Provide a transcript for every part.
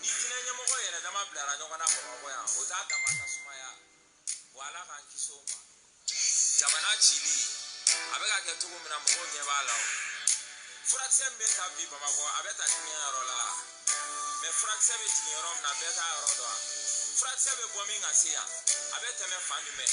ni fini ɲɛmɔgɔ yɛrɛ dama bilara ɲɔgɔn na bamakɔ yan o t'a dama ka sumaya wa ala k'an kisi o ma jamana cili a bɛ ka kɛ cogo min na mɔgɔw ɲɛ b'a la o furakisɛ min bɛ ta bi bamakɔ a bɛ ta diɲɛ yɔrɔ la mɛ furakisɛ bɛ jigin yɔrɔ min na bɛɛ t'a yɔrɔ dɔn furakisɛ bɛ bɔ min ka se yan a bɛ tɛmɛ fan jumɛn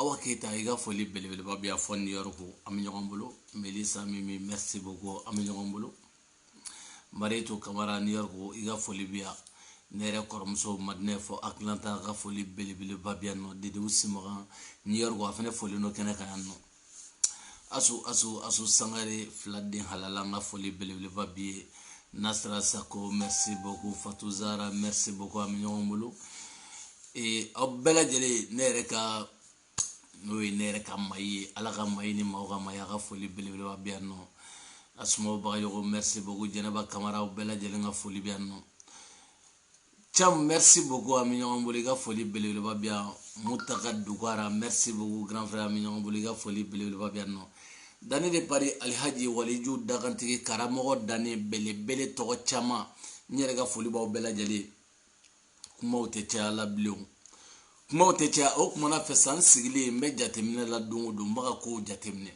awa keyita i ka foli belebeleba bɛ yan fɔ new york an bɛ ɲɔgɔn bolo melisa mimi merci beaucoup an bɛ ɲɔgɔn bolo marietu kamara new york i ka foli bɛ yan ne yɛrɛ kɔrɔmuso madinɛ fɔ atlanta ka foli belebeleba bɛ yan nɔ dedew simaga new york a fana foli nɔ kɛnɛ kan yan nɔ asu asu asu sangare filaden halala n ka foli belebeleba b'i ye nasira sako merci beaucoup fatou zara merci beaucoup an bɛ ɲɔgɔn bolo ee aw bɛɛ lajɛlen ne yɛrɛ ka n'o ye ne yɛrɛ ka mayi ye ala ka mayi ni maaw ka mayi a ka foli belebeleba bɛ yan nɔ asumawu bagayogo merci beaucoup jɛnɛba kamara aw bɛɛ lajɛlen n ka foli bɛ yan nɔ Cham, merci beaucoup an bɛ ɲɔgɔn bolo i ka foli belebeleba bɛ yan mutaka dugara merci beaucoup grand frère an bɛ ɲɔgɔn bolo i ka foli belebeleba bɛ yan nɔ dani de pari alihaji waliju dakantigi karamɔgɔ dani belebele tɔgɔ caman n yɛrɛ ka foli b'aw bɛɛ lajɛlen kumaw tɛ caya la bilen kumaw tɛ caya o kumana fɛ sa n sigilen n bɛ jateminɛ la don o don n bɛ ka kow jateminɛ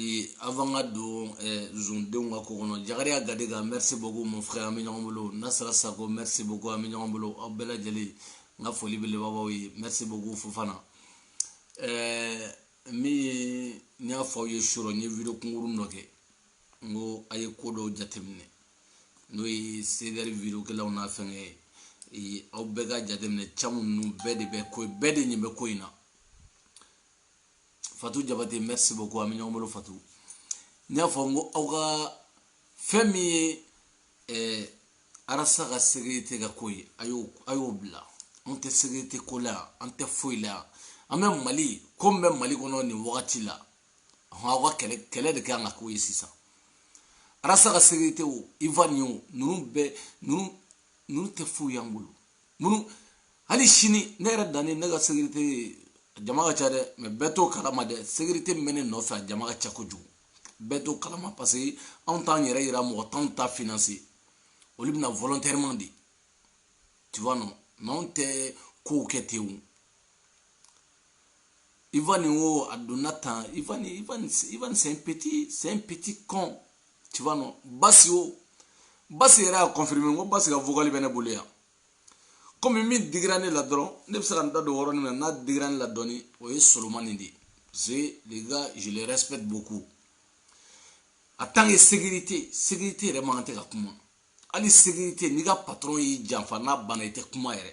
Ee avant ka don zondenw ka ko kɔnɔ jakariya gadega merci beaucoup mon frère an bɛ ɲɔgɔn bolo nasira sako merci beaucoup an bɛ ɲɔgɔn bolo aw bɛɛ lajɛlen n ka foli belebeleba b'aw ye merci beaucoup fofana ɛɛ min ye n y'a fɔ aw ye surɔ n ye video kunkurun dɔ kɛ n ko a ye ko dɔw jateminɛ n'o ye c'est-à-dire video kɛlaw n'a fɛn ye aw bɛɛ ka jateminɛ caman ninnu bɛɛ de bɛ ko bɛɛ de nin bɛ ko in na fatu jabate merci beaucoup an bɛ ɲɔgɔn bolo fatu n y'a fɔ n ko aw ka fɛn min ye eh, arasa ka sécurité ka ko ye a y'o a y'o bila an tɛ sécurité ko la an tɛ foyi la an bɛ mali ko min bɛ mali kɔnɔ nin wagati la aw ka kɛlɛ kɛlɛ de k'an ka ko ye sisan arasa ka sécurité o ivan ye o ninnu bɛɛ ninnu ninnu tɛ foyi y'an bolo minnu hali sini ne yɛrɛ dani ne ka sécurité jama ka ca dɛ mɛ bɛɛ t'o kalama dɛ sécurité min bɛ ne nɔfɛ a jama ka ca kojugu bɛɛ t'o kalama parce que anw t'an yɛrɛ yira mɔgɔ t'anw ta financer olu bɛ na volontairement de tu vois non mɛ anw tɛ kow kɛ ten o Ivan o a donna tan Ivan Ivan Ivan c'est un petit c'est un petit con tu vois non basi o basi yɛrɛ y'a confirmer n ko basi ka vocal bɛ ne bolo yan komi min digira ne la dɔrɔn ne bɛ se ka n da don yɔrɔnin min na n'a digira ne la dɔɔni o ye solomani de ye parce que les gars je les respecte beaucoup en tant que sécurité sécurité yɛrɛ man kan tɛ ka kuma hali sécurité n'i ka patron y'i janfa n'a banna i tɛ kuma yɛrɛ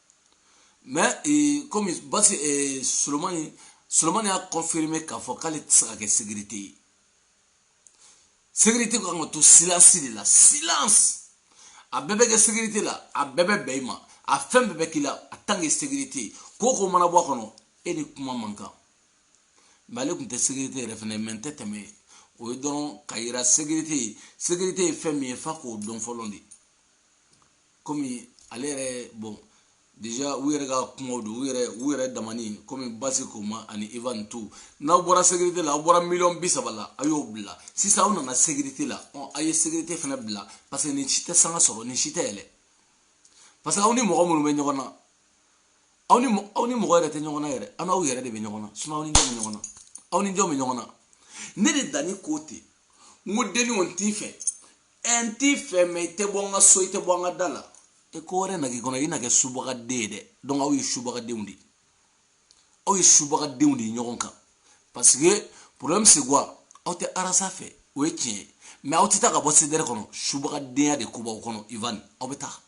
mais komi basi solomani solomani y'a confirmer k'a fɔ k'ale tɛ se ka kɛ sécurité ye sécurité kan ka to silence de la silence a bɛɛ bɛ kɛ sécurité la a bɛɛ bɛ bɛn i ma a fɛn bɛɛ bɛ k'i la en tant que sécurité ko ko mana bɔ a kɔnɔ e ni kuma man kan mais ale tun tɛ sécurité yɛrɛ fɛnɛ mɛ n tɛ tɛmɛ o ye dɔrɔn ka yira sécurité ye sécurité ye fɛn min ye f'a k'o dɔn fɔlɔ de kɔmi ale yɛrɛ bon déjà u yɛrɛ ka kumaw don u yɛrɛ u yɛrɛ damani kɔmi basi ko ma ani Ivan tu n'aw bɔra sécurité la aw bɔra miliyɔn bi saba la a y'o bila sisan aw nana sécurité la ɔn a ye sécurité fana bila parce que nin si tɛ sanga sɔrɔ nin si tɛ yɛlɛ parce que aw ni mɔgɔ minnu bɛ ɲɔgɔn na aw ni aw ni mɔgɔ yɛrɛ tɛ ɲɔgɔn na yɛrɛ an n'aw yɛrɛ de bɛ ɲɔgɔn na sinon aw ni jɔn bɛ ɲɔgɔn na aw ni jɔn bɛ ɲɔgɔn na ne de dani ko ten n ko dani kɔni t'i fɛ n t'i fɛ mais i tɛ bɔ n ka so i tɛ bɔ n ka da la e ko wɛrɛ na k'i kɔnɔ i na kɛ subagaden ye dɛ donc aw ye subagadenw de aw ye subagadenw de ye ɲɔgɔn kan parce que problème c'est quoi aw tɛ arasa fɛ o ye tiɲɛ ye mais aw tɛ taa ka bɔ CDR kɔnɔ subagadenya de ko b'aw kɔnɔ ivan aw bɛ taa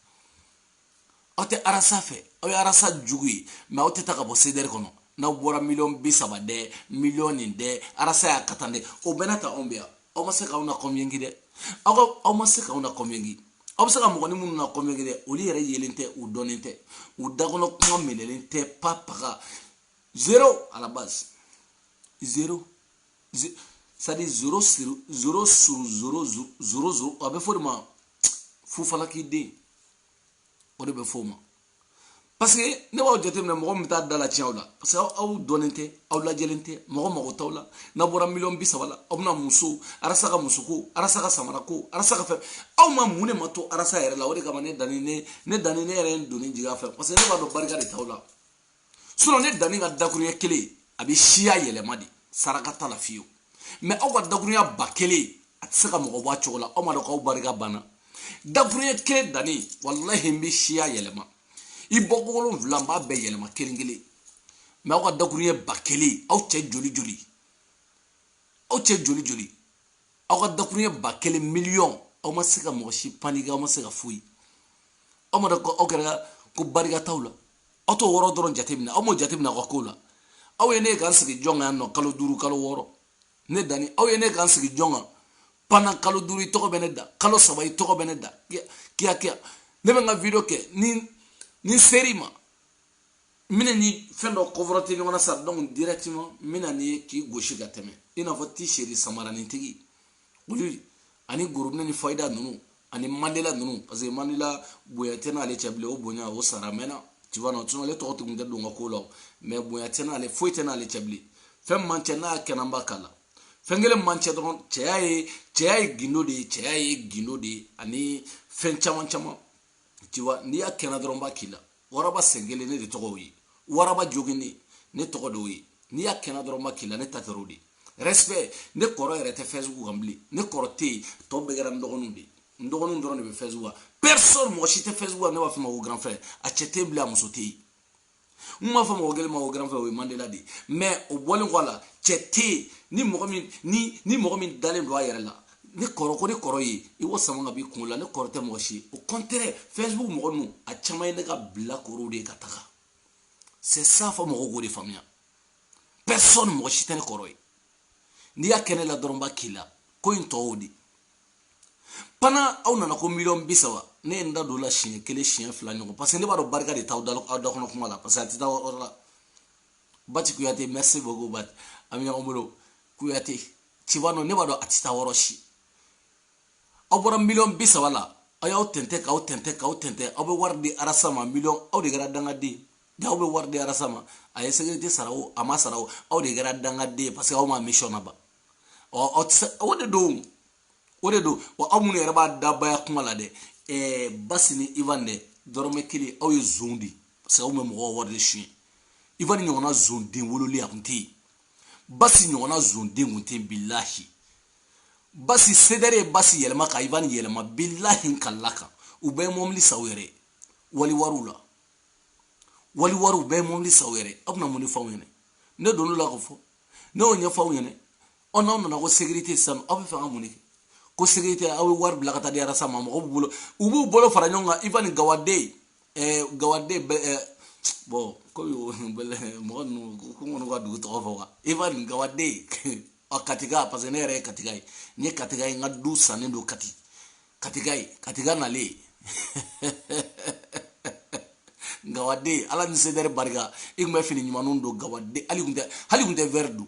aw tɛ arasa fɛ aw ye arasa jugu ye mais aw tɛ taa ka bɔ CDR kɔnɔ n'aw bɔra miliyɔn bi saba dɛ miliyɔn nin dɛ arasa y'a ka tan dɛ o bɛɛ n'a ta anw bɛ yan aw ma se k'aw na convaincre dɛ aw ka aw ma se k'aw na convaincre aw bɛ se ka mɔgɔnin minnu na convaincre dɛ olu yɛrɛ yelen tɛ u dɔnnen tɛ u dakɔnɔ kuma minɛlen tɛ pa paga zéro à la base zéro c'est-à-dire zéro sur zéro sur zéro zéro zéro a bɛ fɔ de ma fufalaki den o de bɛ fɔ o ma parce que ne b'aw jateminɛ mɔgɔ min bɛ taa da la tiɲɛ aw la parce que aw dɔnnen tɛ aw lajɛlen tɛ mɔgɔ mago t'aw la n'a bɔra miliyɔn bi saba la aw bɛna muso arasa ka muso ko arasa ka samara ko arasa ka fɛn aw ma mun de ma to arasa yɛrɛ la o de kama ne dani ne ne dani ne yɛrɛ ye n donni jigin a fɛ parce que ne b'a dɔn barika de t'aw la sinon ne dani ka dakuruɲɛ kelen a bɛ siya yɛlɛma de saraka t'a la fiyewu mais aw ka dakuruɲɛ ba kelen a tɛ se ka mɔgɔ bɔ a cogo la aw ma dɔn k'aw barika banna dakuruɲɛ kelen dani walahi n bɛ siya yɛlɛma i bɔ wolonwula n b'a bɛɛ yɛlɛma kelen kelen mais aw ka dakuruɲɛ ba kelen aw cɛ joli joli aw cɛ joli joli aw ka dakuruɲɛ ba kelen miliyɔn aw ma se ka mɔgɔ si paniquer aw ma se ka foyi aw ma dɔn ko aw kɛra ko barika t'aw la aw t'o yɔrɔ dɔrɔn jateminɛ aw m'o jateminɛ aw ka kow la aw ye ne ye k'an sigi jɔn kan yan nɔ kalo duuru kalo wɔɔrɔ ne danni aw ye ne k'an sigi jɔn kan pendant kalo duuru i tɔgɔ bɛ ne da kalo saba i tɔgɔ bɛ ne da kiyakiya ne bɛ n ka video kɛ ni n ser'i ma n bɛna ni fɛn dɔ confronter ɲɔgɔn na sa donc directement n bɛna ni ye k'i gosi ka tɛmɛ i n'a fɔ t-shirt samaranitigi olu ani gorobinɛ ni fayida ninnu ani mandela ninnu parce que mandela bonya tɛ n'ale cɛ bilen o bonya o sara mɛnna tu vois non sinon ale tɔgɔ tun tɛ don n ka ko la o mais bonya tɛ n'ale foyi tɛ n'ale cɛ bilen fɛn b'an cɛ n'a kɛ ne b'a k'a la fɛn kelen b'an cɛ dɔrɔn cɛya ye cɛya ye gindo de ye cɛya ye gindo de ye ani fɛn caman caman tu vois n'i y'a kɛ ne dɔrɔn n b'a k'i la waraba sen kelen ne de tɔgɔ ye waraba jogini ne tɔgɔ d'o ye n'i y'a kɛ ne dɔrɔn n b'a k'i la ne ta trop de respect ne kɔrɔ yɛrɛ tɛ facebook kan bilen ne kɔrɔ tɛ yen tɔ bɛɛ kɛra n dɔgɔninw de n dɔgɔninw dɔrɔn de bɛ facebook kan personne mɔgɔ si tɛ facebook kan ne b'a fɔ ma ko grand frère a cɛ tɛ bilen a muso tɛ yen n b'a fɔ mɔgɔ kelen ma ko grand frère o ye mandela de ye mais o bɔlen kɔ a la cɛ tɛ yen ni mɔgɔ min ni ni mɔgɔ min dalen don a yɛrɛ la ne kɔrɔ ko ne kɔrɔ ye i k'o sama ka b'i kunkolo la ne kɔrɔ tɛ mɔgɔ si au contraire facebook mɔgɔ ninnu a caman ye ne ka bilakorow de ye ka taga c'est ça fɔ mɔgɔw k'o de faamuya personne mɔgɔ si tɛ ne kɔrɔ ye n'i y'a kɛ ne la dɔrɔn n b'a k'i la ko in tɔw de pendant aw nana ko miliyɔn bi saba ne ye n da don o la siɲɛ kelen siɲɛ fila ɲɔgɔn parce que ne b'a dɔn barika de t'aw da aw da kɔnɔ kuma la parce que a tɛ taa yɔrɔ la bati kuyate merci beaucoup bati an bɛ ɲɔgɔn bolo kuyate tu vois non ne b'a dɔn a tɛ taa yɔrɔ si aw bɔra miliyɔn bi saba la aw y'aw tɛntɛn k'aw tɛntɛn k'aw tɛntɛn aw bɛ wari di arasa ma miliyɔn aw de kɛra dangaden de aw bɛ wari di arasa ma a ye sécurité sara o a ma sara o aw de kɛra dangaden ye parce que aw ma misiyɔn laban ɔ aw tɛ se o de don o de don wa aw minnu yɛrɛ b'a dabaya kuma la dɛ ɛɛ basi ni ivan dɛ dɔrɔmɛ kelen aw ye zon de parce que aw bɛ mɔgɔw wari de suɲɛ ivan ni ɲɔgɔnna zon den wololen a tun tɛ yen basi ɲɔgɔnna zonden kun tɛ bilahi basi cdr ye basi yɛlɛma ka ivan yɛlɛma bilahi kalikan u bɛɛ ye mɔbili san u yɛrɛ waliwariw la waliwariw bɛɛ ye mɔbili san u yɛrɛ aw bɛna mun de fɔ aw ɲɛna ne donn'o la k'o fɔ ne y'o ɲɛfɔ aw ɲɛna ɔ n'aw nana ko sécurité sisan aw b'a fɛ ka mun de kɛ ko sécurité aw bɛ wari bila ka taa di arasa ma mɔgɔw b'u bolo u b'u bolo fara ɲɔgɔn kan ivan gawaden ɛɛ gawaden bɛ ɛɛ bɔn komi o bɛlɛ mɔgɔ ninnu ko n kɔni ka dugu tɔgɔ fɔ wa ivan gawaden ɔ katika parce que ne yɛrɛ ye katika ye n ye katika ye n ka du sannen don kati katika ye katika nalen gawaden ala ni cdr barika i tun bɛ fini ɲumanninw don gawaden hali tun tɛ hali tun tɛ wɛri don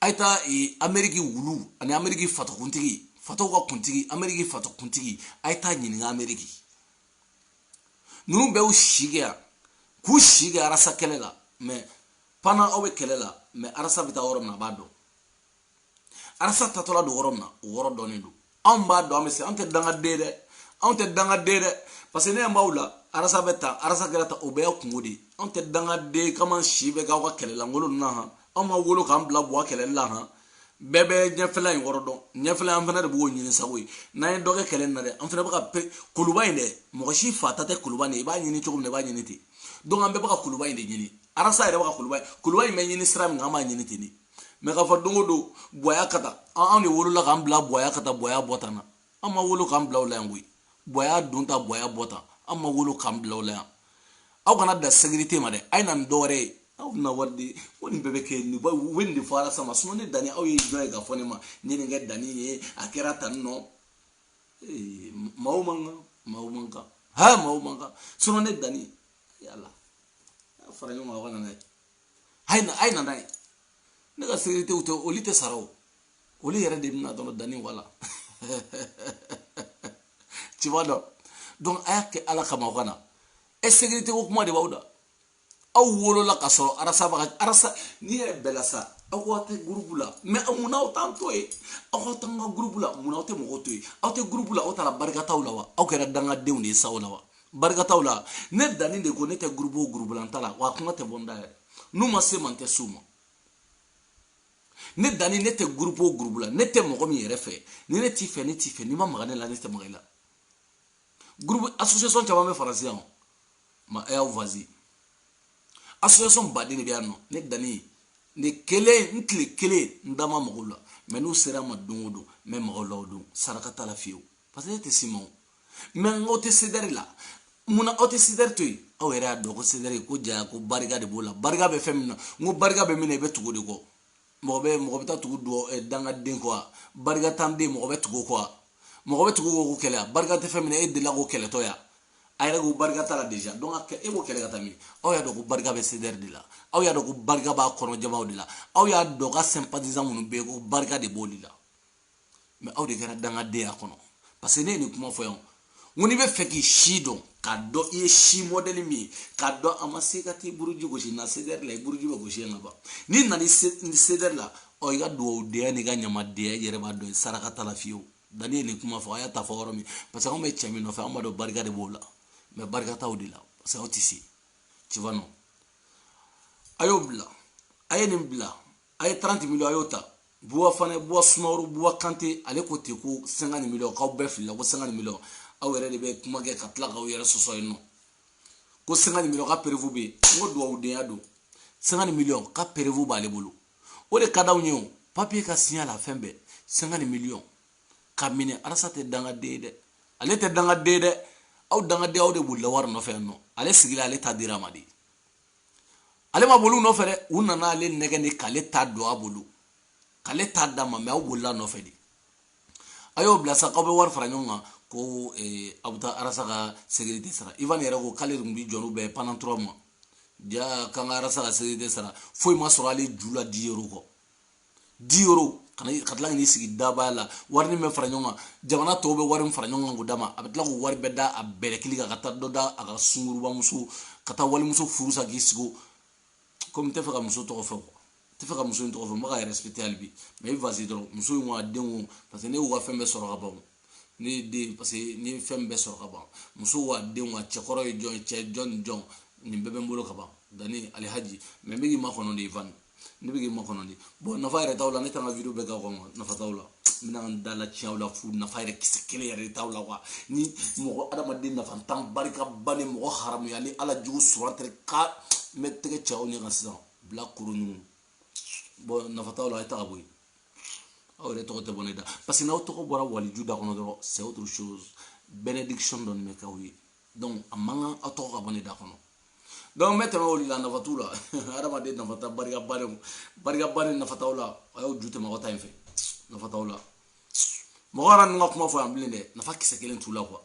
a ye taa e, ameriki wulu ani ameriki fatokuntigi fatow ka kuntigi ameriki fatokuntigi a ye taa ɲininka ameriki ninnu bɛɛ y'u si kɛ yan k'u si kɛ arasa kɛlɛ la mɛ pendant aw bɛ kɛlɛ la mɛ arasa bɛ taa yɔrɔ min na a b'a dɔn arasa taatɔla don yɔrɔ min na o yɔrɔ dɔnnen don anw b'a dɔn an bɛ se anw tɛ dangaden dɛ anw tɛ dangaden dɛ parce que ne ɲɛ b'aw la arasa bɛ tan arasa kɛra tan o bɛɛ y'a kunko de ye anw tɛ dangaden k'an si bɛɛ k'aw ka kɛlɛlankolon ninnu na han anw ma wolo k'an bila buwa kɛlɛli la han bɛɛ bɛ ɲɛfɛla in kɔrɔ dɔn ɲɛfɛla an fana de b'o ɲini sago ye n'an ye dɔ kɛ kɛlɛ in na dɛ an fana bɛ ka pe kuluba in dɛ mɔgɔ si fa ta tɛ kuluba nin i b'a ɲini cogo min na i b'a ɲini ten donc an bɛɛ bɛ ka kuluba in de ɲini arasa yɛrɛ bɛ ka kuluba in kuluba in bɛ ɲini sira min kan an b'a ɲini ten de mɛ k'a fɔ don o don buwa ka taa anw de wolola k'an bila buwa ka taa buwa bɔ tan na an ma wolo k'an bila o la yan koyi buwa don tan buwa bɔ tan an ma wolo k'an bila o la yan aw kana da sekirite ma dɛ a ye na ni dɔwɛrɛ ye aw bɛna wari di ko nin bɛɛ bɛ kɛ nin u bɛ nin de fɔ arasa ma sinon ne danni aw ye jɔn ye k'a fɔ ne ma ne ye nin kɛ danni ye a kɛra tan nɔ maaw man kan maaw man kan ha maaw man kan sinon ne danni yala fara ɲɔgɔn kan aw ka na n'a ye a ye na a ye na n'a ye ne ka sekiritew tɛ olu tɛ sara o olu yɛrɛ de bɛ na dɔrɔn danni voilà tu vois donc donc a y'a kɛ ala kama aw ka na e sekirite ko kuma de b'aw da aw wolola ka sɔrɔ arasa baga arasa n'i yɛrɛ bɛla sa aw ko aw tɛ gurupu la mɛ munna aw t'an to yen aw ka t'an ka gurupu la munna aw tɛ mɔgɔw to yen aw tɛ gurupu la aw taara barikantanw la wa aw kɛra dangadenw de ye sa o la wa barikantanw la ne danni de ko ne tɛ gurubu o gurubu la n ta la wa kuma tɛ bɔ n da yɛrɛ n'u ma se n ma n tɛ s'u ma ne danni ne tɛ gurubu o gurubu la ne tɛ mɔgɔ min yɛrɛ fɛ ni ne t'i fɛ ne t'i fɛ n'i ma maga ne la ne tɛ maga i la gurubu association caman bɛ faransi yan ma ɛ y'aw vazi association baden de bɛ yan nɔ ne danni ne kelen n tile kelen n da ma mag'u la mɛ n'u sera n ma don o don n bɛ mag'u la o don saraka t'a la fiyewu parce que ne tɛ s'i ma o mɛ aw tɛ sedɛri la munna aw tɛ sedɛri to yen aw yɛrɛ y'a dɔn ko sedɛri ko jaya ko barika de b'o la barika bɛ fɛn min na n ko barika bɛ min na i bɛ tugu o de kɔ mɔgɔ bɛ mɔgɔ bɛ taa tugu dɔ eh, dangaden kɔ wa barikantan den mɔgɔ bɛ tugu o kɔ wa mɔgɔ bɛ tugu k'o kɛlɛ barika tɛ fɛn min na e delila k'o kɛlɛtɔ ya a yɛrɛ ko barika t'a la déjà donc e b'o kɛlɛ ka taa min aw y'a dɔn ko barika bɛ sedɛri de la aw y'a dɔn ko barika b'a kɔnɔjabaw de la aw y'a dɔn k'a sympathisant minnu bɛ yen ko barika de b'olu la mɛ aw de kɛra dangadenya kɔnɔ parce que ne ye nin kuma fɔ yan ko n'i bɛ fɛ k'i si dɔn k'a dɔn i ye si mɔdɛli min ye k'a dɔn a ma se ka t'i buruji gosi na sedɛri la i buruji bɛ gosi yan ka ban n'i nana sedɛri la ɔ i ka dugawudenya n'i ka ɲamadenya i yɛrɛ b'a dɔn saraka t'a la fiyewu danni ye nin kuma fɔ a y'a ta fɔ yɔrɔ min parce que anw bɛ cɛ min nɔfɛ an b'a dɔn barika de b'o la mɛ barika t'aw de la parce que aw tɛ se tu vois non a y'o bila a ye nin bila a ye 30 miliyɔn a y'o ta buwa fana buwa sumaworo buwa kante ale ko ten ko 50 miliyɔn k'aw bɛɛ filila ko 50 miliyɔn aw yɛrɛ de bɛ kuma kɛ ka tila k'aw yɛrɛ sɔsɔ yen nɔ ko 50 miliyɔn ka preuve bɛ yen n ko dugawudenya don 50 miliyɔn ka preuve b'ale bolo o de ka d'anw ye o papiye ka siɲɛ la fɛn bɛɛ 50 miliyɔn ka minɛ arasa tɛ dangaden ye dɛ ale tɛ dangaden ye dɛ aw dangaden aw de bolila wari nɔfɛ yan nɔ ale sigila ale ta dira ma de ale ma boli u nɔfɛ dɛ u nana ale nɛgɛ de k'ale ta don a bolo k'ale ta d'a ma mais aw bolila nɔfɛ de a y'o bila sa k'aw bɛ wari fara ɲɔgɔn kan ko eh, aw bɛ taa arasa ka sécurité sara ivan yɛrɛ ko k'ale tun bɛ jɔ n'u bɛɛ pendant 3 mois ja k'an ka arasa ka sécurité sara foyi ma sɔrɔ ale ju la 10 euros kɔ 10 euros ka tila ka n'i sigi dabaya la wari min bɛ fara ɲɔgɔn kan jamana tɔw bɛ wari min fara ɲɔgɔn kan k'o d'a ma a bɛ tila k'o wari bɛɛ da a bɛlɛkili kan ka taa dɔ da a ka sunguruba muso ka taa walimuso furu sa k'i sigi komi n tɛ fɛ ka muso tɔgɔ fɔ quoi n tɛ fɛ ka muso in tɔgɔ fɔ n bɛ k'a respecter hali bi mais i vasi dɔrɔn muso in ko a den ko parce que ne y'u ka fɛn bɛɛ sɔrɔ ka ban ne ye den parce que ne ye fɛn bɛɛ sɔrɔ ka ban muso wa den wa cɛkɔrɔ ye jɔn ye cɛ jɔn ni jɔn nin bɛɛ bɛ n bolo ka ban danni alihaji mais n bɛ k'i makɔnɔ de ivan ne bɛ k'i makɔnɔ de bon nafa yɛrɛ t'aw la ne taara video bɛɛ k'a kɔnɔ nafa t'aw la n bɛna n da latiɲɛ aw la fu nafa yɛrɛ kisɛ kelen yɛrɛ de t'aw la quoi ni mɔgɔ adamaden nafantan barikabannen mɔgɔ haramuyanen ala jugu sɔrɔ tɛ ka n bɛ tɛgɛ ci aw ɲɛ kan sisan bilakoro ɲugu bon nafa t'aw la a ye taga bɔ yen aw yɛrɛ tɔgɔ tɛ bɔ ne da parce que n'aw tɔgɔ bɔra waliju da kɔnɔ dɔrɔn c'est autre chose bénédiction dɔɔni bɛ k'aw ye donc a man kan aw tɔgɔ ka bɔ ne da kɔnɔ donc n bɛ tɛmɛ olu la nafa t'u la hadamaden nafantan barikabannen nafa t'aw la a y'aw ju tɛmɛ aw ta in fɛ nafa t'aw la mɔgɔ kana ninnu ka kuma fɔ yan bilen dɛ nafa kisɛ kelen t'u la quoi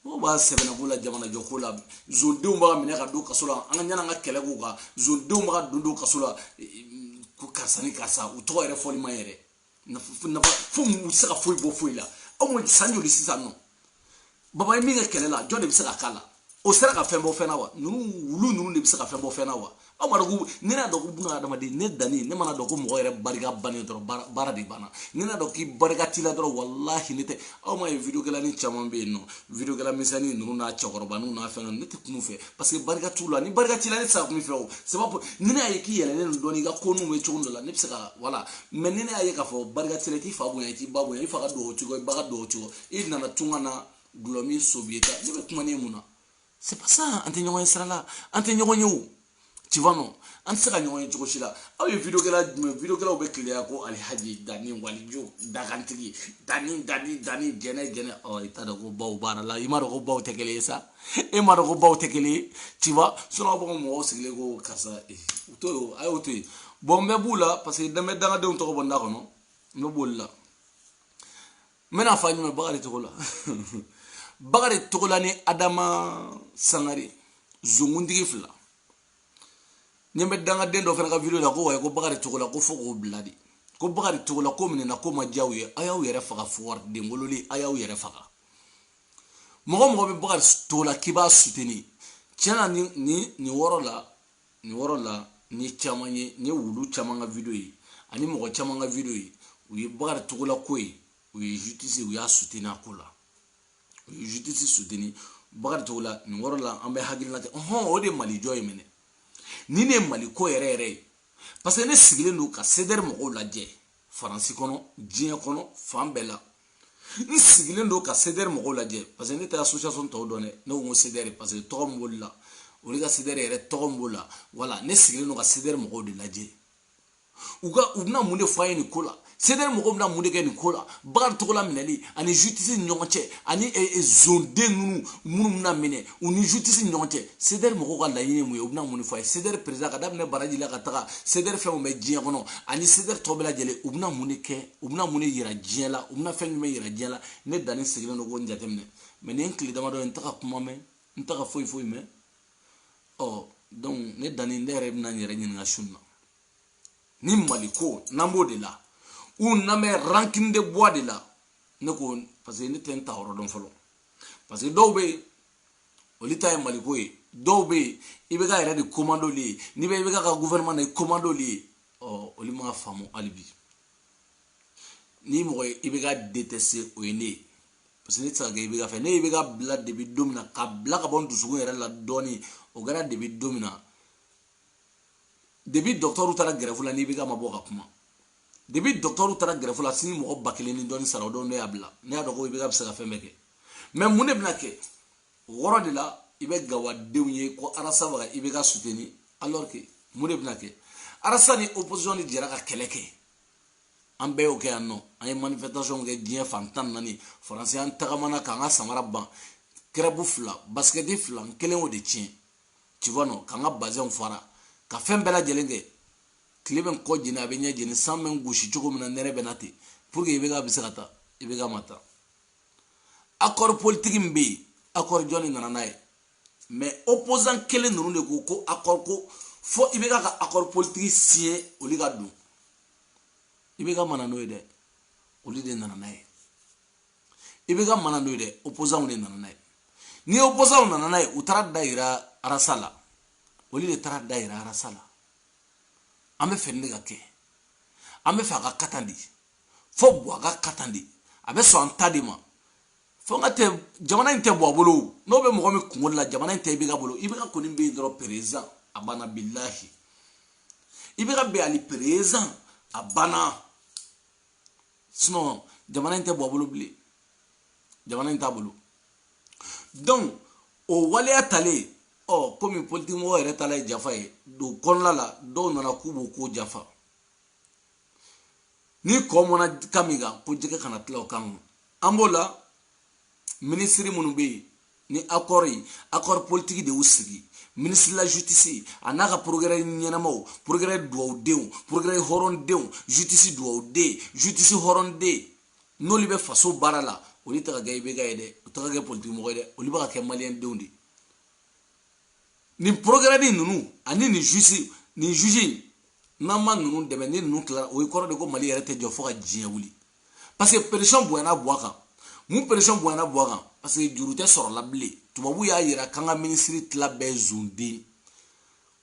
mɔgɔw b'a sɛbɛnna ko la jamanajɔ ko la zondenw bɛ ka minɛ ka don kaso la an ka ɲana an ka kɛlɛ k'u kan zondenw bɛ ka don don kaso la ko karisa ni karisa u tɔgɔ yɛrɛ fɔli ma yɛrɛ nafa u ma se ka foyi bɔ foyi la aw ma san joli sisan nɔ baba ye min kɛ kɛlɛ la jɔn de bɛ se ka k'a la o sera ka fɛn bɔ fɛn na wa ninnu wulu ninnu de bɛ se ka fɛn bɔ fɛn na wa aw ma dɔn ko ne n'a dɔn ko buna adamaden ne danni ne mana dɔn ko mɔgɔ yɛrɛ barika bannen dɔrɔn baara de banna ne n'a dɔn k'i barika t'i la dɔrɔn walahi ne tɛ aw ma ye videokɛlanin caman bɛ yen nɔ videokɛla misɛnnin ninnu n'a cɛkɔrɔba ninnu n'a fɛn ne tɛ kuma u fɛ parce que barika t'u la ni barika t'i la ne tɛ se ka kuma i fɛ o sababu ni ne y'a ye k'i yɛlɛlen don dɔɔni i ka ko ninnu bɛ cogo dɔ la ne bɛ se ka voilà mais ni ne y'a ye k'a fɔ barika t'i la i t'i fa bonya i t'i ba bonya i fa ka dugawu cogo i ba ka dugawu cogo i nana tunga na gulɔ min sobiye ta ne bɛ kuma ne mun na c'est pas ça an tɛ ɲɔgɔn ye sira la an tɛ ɲɔgɔn ye o tu vois non an tɛ se ka ɲɔgɔn ye cogo si la aw ye video kɛla jumɛn video kɛlaw bɛ keleya ko alihaji dani walijo dagantigi dani dani dani gɛnɛ gɛnɛ ɔ i t'a dɔn ko baw baarala i m'a dɔn ko baw tɛ kelen ye sa e m'a dɔn ko baw tɛ kelen ye tu vois sinon aw b'a fɔ mɔgɔw sigilen ko karisa u to yen a y'o to yen bɔn n bɛ b'u la parce que n bɛ dangadenw tɔgɔ bɔ n da kɔnɔ n bɛ b'olu la n bɛna fɔ a ɲuman bakari togola bakari togola ni adama sangare zonkuntigi fila n ɲɛ bɛ dangaden dɔ fana ka video la ko wayi ko bakari togola ko fo k'o bila de ko bakari togola ko minɛna k'o ma diya u ye a y'aw yɛrɛ faga foroden wololi a y'aw yɛrɛ faga mɔgɔ o mɔgɔ bɛ bakari togola k'i b'a suteni tiɲɛ na nin nin nin yɔrɔ la nin yɔrɔ la n ye caman ye n ye wulu caman ka video ye ani mɔgɔ caman ka video ye u ye bakari togola ko ye u ye jutisi u y'a suteni a ko la u ye jutisi suteni bakari togola nin yɔrɔ la an bɛ hakilina kɛ hɔn o de mali jɔ ye mɛ ne ni nin ye mali ko yɛrɛ yɛrɛ ye parce que ne sigilen don ka sedɛri mɔgɔw lajɛ faransi kɔnɔ diɲɛ kɔnɔ fan bɛɛ la n sigilen don ka sedɛri mɔgɔw lajɛ parce que ne tɛ association tɔw dɔn dɛ ne ko n ko sedɛri parce que tɔgɔ min b'olu la olu ka sedɛri yɛrɛ tɔgɔ min b'o la voilà ne sigilen don ka sedɛri mɔgɔw de lajɛ u ka u bɛna mun de fɔ an ye nin ko la sedɛri mɔgɔw bɛna mun de kɛ nin ko la bakari togola minɛli ani jutisi ni ɲɔgɔn cɛ ani eh, eh, zonden ninnu minnu bɛna minɛ u ni jutisi ni ɲɔgɔn cɛ sedɛri mɔgɔw ka laɲini ye mun ye u bɛna mun de fɔ an ye sedɛri perezida ka daminɛ baraji la ka taga sedɛri fɛn min bɛ diɲɛ kɔnɔ ani sedɛri tɔ bɛɛ lajɛlen u bɛna mun de kɛ u bɛna mun de yira diɲɛ la u bɛna fɛn jumɛn yira diɲɛ la ne dani sigilen don k'o jateminɛ mɛ nin ye tile damadɔ ye n tɛ ka kuma mɛn n tɛ ka foyi foyi mɛn ɔ donc ne dani ne yɛrɛ bɛna n yɛrɛ ɲininka su in na ni mali ko n'an b'o de la ou n'an bɛ rankini de bɔ de la ne ko parce que ne tɛ n ta yɔrɔ dɔn fɔlɔ parce que dɔw bɛ yen olu ta ye mali ko ye dɔw bɛ yen ibeka yɛrɛ de ko man d'olu ye n'i bɛ ibeka ka gouvernement na i ko man d'olu ye ɔ olu m'a faamu hali bi ni mɔgɔ ye ibeka detɛse o ye ne ye parce que ne tɛ se ka kɛ ibeka fɛ ne y'ibeka bila depuis don min na k'a bila k'a bɔ n dusukun yɛrɛ la dɔɔnin o kɛra depuis don min na depuis dɔgɔtɔrɔw taara gɛrɛfu la n'ibeka ma bɔ ka kuma depuis dɔgɔtɔrɔw taara gɛrɛfu la sini mɔgɔ ba kelen ni dɔɔnin sara o don ne y'a bila ne y'a dɔn ko ibeka bɛ se ka fɛn bɛɛ kɛ mɛ mun de bɛna kɛ o yɔrɔ de la i bɛ gawadenw ye ko arasa bɛ ka ibeka suteni alors que mun de bɛna kɛ arasa ni opposition de jɛra ka kɛlɛ kɛ an bɛɛ y'o kɛ yan non an ye manifestation kɛ diɲɛ fan tan naani faransi an tagamana k'an ka samara ban kɛrɛbu fila basikɛti fila n kelen y'o de tiɲɛ tu vois non k'an ka bazɛnw fara ka fɛn bɛɛ lajɛlen kɛ tile bɛ n kɔ jeni a bɛ n ɲɛ jeni san bɛ n gosi cogo min na nɛnɛ bɛ na ten pour que ibeka bɛ se ka taa ibeka ma taa akɔri politiki min bɛ yen akɔri jɔn de nana n'a ye mɛ opozan kelen ninnu de ko ko akɔri ko fo ibk ka akɔri politiki siɲe olu ka don ibk ma na n'o ye dɛ olu de nana n'a ye ibk ma na n'o ye dɛ opozanw de nana n'a ye ni opozanw nana n'a ye u taara da yira arasa la olu de taara da yira arasa la an b'a fɛ nin de ka kɛ an b'a fɛ a ka kɛ tan de fo buwa k'a kɛ tan de a bɛ sɔn an ta de ma fo n ka tɛ jamana in tɛ buwa bolo n'o bɛ mɔgɔ min kunkolo la jamana in tɛ ibk bolo ibk kɔni bɛ yen dɔrɔn perezidan a banna bilahi ibk bɛ yen ani perezidan a banna sinɔn jamana in tɛ buwa bolo bilen jamana in t'a bolo donc o waleya talen ɔ komi politikimɔgɔ yɛrɛ tala ye janfa ye don kɔnɔna la dɔw nana k'u b'o ko janfa ni kɔ mɔna kan min kan ko jɛgɛ kana tila o kan an b'o la minisiri minnu bɛ yen ni akɔri ye akɔri politiki de y'u sigi minisiri de la jutisi a n'a ka porogɛrɛ ɲɛnamaw porogɛrɛ duwawudenw porogɛrɛ hɔrɔndenw jutisi duwawuden jutisi hɔrɔnden n'olu bɛ faso baara la olu tɛ ka kɛ ibk ye dɛ u tɛ ka kɛ politiki mɔgɔ ye dɛ olu bɛ ka kɛ maliyɛndenw de ye nin porogɛrɛni ninnu ani nin jusi nin jusi in n'an ma ninnu dɛmɛ ni ninnu tilara o ye kɔrɔ de ko mali yɛrɛ tɛ jɔ fo ka diɲɛ wuli parce que pression bonyana buwa kan mun pression bonyana buwa kan parce que juru tɛ sɔrɔla bilen tubabu y'a yira k'an ka minisiri tila bɛɛ zon don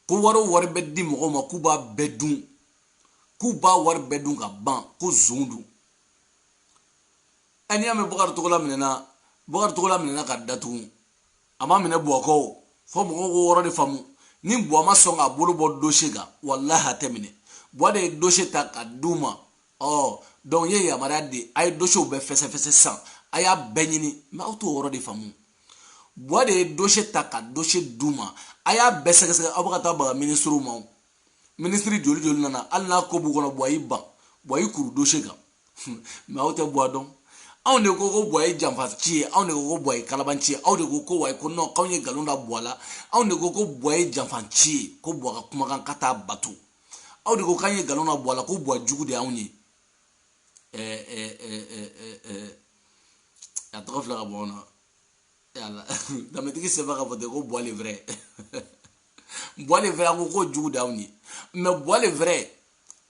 ko wari o wari bɛ di mɔgɔw ma k'u b'a bɛɛ dun k'u b'a wari bɛɛ dun ka ban ko zon don ɛ n'i y'a mɛn bakari togola minɛna bakari togola minɛna ka datugu a ma minɛ buwa kɔ o fo mɔgɔw k'o yɔrɔ de faamu ni buwa ma sɔn k'a bolo bɔ dose kan walahi a tɛ minɛ buwa de ye dose ta ka d'u ma ɔ donc u ye yamaruya di a ye dosew bɛɛ fɛsɛfɛsɛ san a y'a bɛɛ ɲini mɛ aw t'o yɔrɔ de faamu buwa de ye dose ta ka dose d'u ma a y'a bɛɛ sɛgɛsɛgɛ aw bɛ ka taa baga minisiriw ma minisiri joli joli nana hali n'a ko b'u kɔnɔ buwa y'i ban buwa y'i kuru dose kan mɛ aw tɛ buwa dɔn anw de ko ko buwa ye janfanci ye anw de ko ko buwa ye kalabanci ye aw de ko ko wayi ko nɔn k'anw ye nkalon da buwa la anw de ko ko buwa ye janfanci ye ko buwa ka kumakan k'a t'a bato aw de ko k'an ye nkalon da buwa la ko buwa jugu de y'anw ye a tɔgɔ filɛ ka bɔ na danbetigi sɛbɛn ka fɔ ten ko buwa le vrɛ buwa le vrɛ a ko k'o jugu d'aw ye mɛ buwa le vrɛ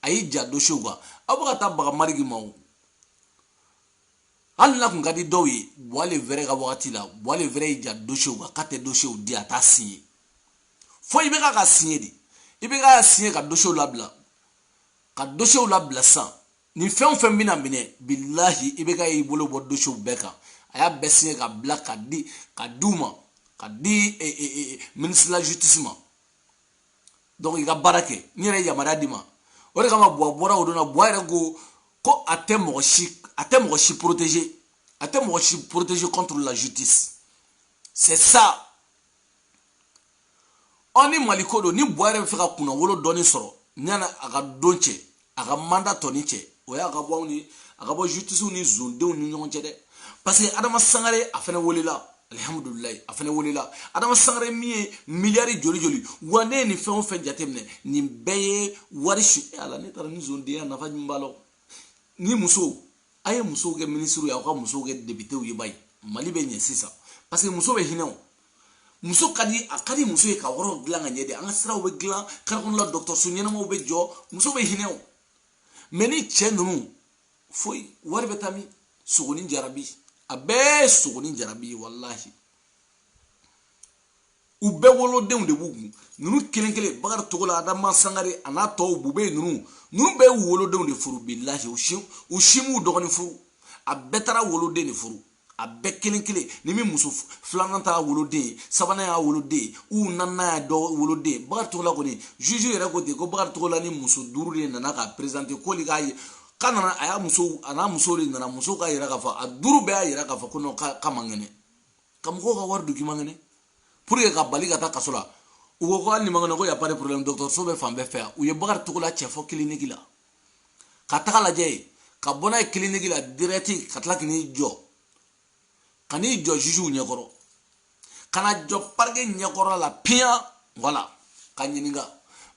a y'i ja dosew kan aw bɛ ka taa baga maliki ma o hali n'a kun ka di dɔw ye buwa le vrɛ ka wagati la buwa le vrɛ y'i ja dosew kan k'a tɛ dosew di a t'a siɲe fo ibk k'a siɲe de ibk k'a siɲe ka dosew labila ka dosew labila sisan nin fɛn o fɛn bɛna minɛ bilahi IBK y'i bolo bɔ dosiyew bɛɛ kan a y'a bɛɛ siɲɛ ka bila ka di ka di u ma ka di eh, eh, eh, ministre la justice ma donc i ka baara kɛ n yɛrɛ ye yamaruya d'i ma o de kama buwa bɔra o don na buwa yɛrɛ ko ko a tɛ mɔgɔ si a tɛ mɔgɔ si protéger a tɛ mɔgɔ si protéger contre la justice c'est ça ɔ ni mali ko don ni buwa yɛrɛ b'a fɛ ka kunnawolo dɔɔni sɔrɔ yani a ka don cɛ a ka manda tɔni cɛ o y'a ka bɔ anw ni a ka bɔ jutisiw ni zondenw ni ɲɔgɔn cɛ dɛ parce que adama sangare a fɛnɛ welela alihamudulilayi a fɛnɛ welela adama sangare min ye miliyari joli joli wa ne ye nin fɛn o fɛn jateminɛ nin bɛɛ ye wari su ala ne taara ni zondenya nafa jumɛn b'a la ni musow a ye musow kɛ minisiriw ye aw ka musow kɛ depitew ye bayi mali bɛ ɲɛ sisan parce que muso bɛ hinɛ o muso ka di a ka di muso ye ka yɔrɔ dilan ka ɲɛ de an ka siraw bɛ dilan kare kɔnɔ la dɔgɔtɔrɔso ɲɛnamaw bɛ jɔ muso bɛ hinɛ o mɛ ni cɛ ninnu foyi wari bɛ taa min sogonin jarabi a bɛɛ sogonin jarabi ye walahi u bɛɛ wolodenw de b'u kun ninnu kelen kelen bakari togola adama sangare a n'a tɔw bube ninnu ninnu bɛɛ y'u wolodenw de furu bilahi u si m'u dɔgɔnin furu a bɛɛ taara woloden de furu a bɛɛ kelen kelen ni min muso filanan t'a woloden ye sabanan y'a woloden ye u naaninan y'a dɔ woloden ye bakari togola kɔni juge yɛrɛ ko ten ko bakari togola ni muso duuru de nana k'a perezante k'olu k'a ye k'a nana a y'a muso a n'a muso de nana muso k'a yira k'a fɔ a duuru bɛɛ y'a yira k'a fɔ ko non k'a man kɛnɛ ka mɔgɔw ka wari dun k'i man kɛnɛ pour que k'a bali ka taa kaso la u ko ko hali n'i man kɛnɛ ko y a pas de problème dɔgɔtɔrɔso bɛ fan bɛɛ fɛ yan u ye bakari togola cɛ fɔ kiliniki la ka taga lajɛ yen ka bɔ n'a ye kiliniki la dirɛti ka tila k'i jɔ ka n'i jɔ jugew ɲɛkɔrɔ ka na jɔ parike ɲɛkɔrɔ la piyan voilà k'a ɲininka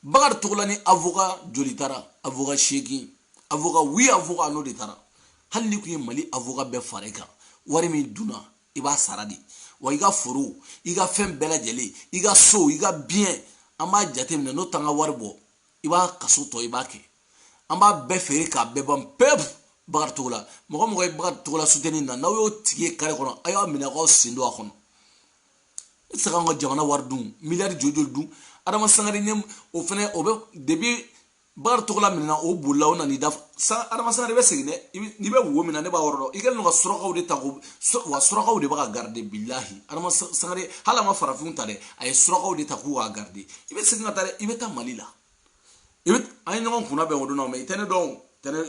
bakari togola ni avoka joli taara avoka seegin avoka huit avoka n'o de taara hali n'i kun ye mali avoka bɛɛ fara i kan wari min dunna i b'a sara de wa i ka foro i ka fɛn bɛɛ lajɛlen i ka so i ka biyɛn an b'a jateminɛ n'o t'an ka wari bɔ i b'a kaso tɔ i b'a kɛ an b'a bɛɛ feere k'a bɛɛ ban pewu bakari togola mɔgɔ mɔgɔ ye bakari togola suteni na n'aw y'o tigi ye kare kɔnɔ a y'a minɛ k'aw sen don a kɔnɔ i tɛ se k'an ka jamana wari dun miliyari joli joli dun adama sangare ɲɛ o fɛnɛ o bɛ depi bakari togola minɛna o bolila o nana i da san adama sangare bɛ segin dɛ n'i bɛ wo min na ne b'a yɔrɔ dɔn i kɛlen don ka surakaw de ta ko wa surakaw de bɛ k'a garide bilahi adama sangare hali a ma farafinw ta dɛ a ye surakaw de ta k'u k'a garide i bɛ segin ka taa dɛ i bɛ taa mali la i bɛ an ye ɲɔgɔn kunna bɛn o don na mɛ i tɛ ne dɔn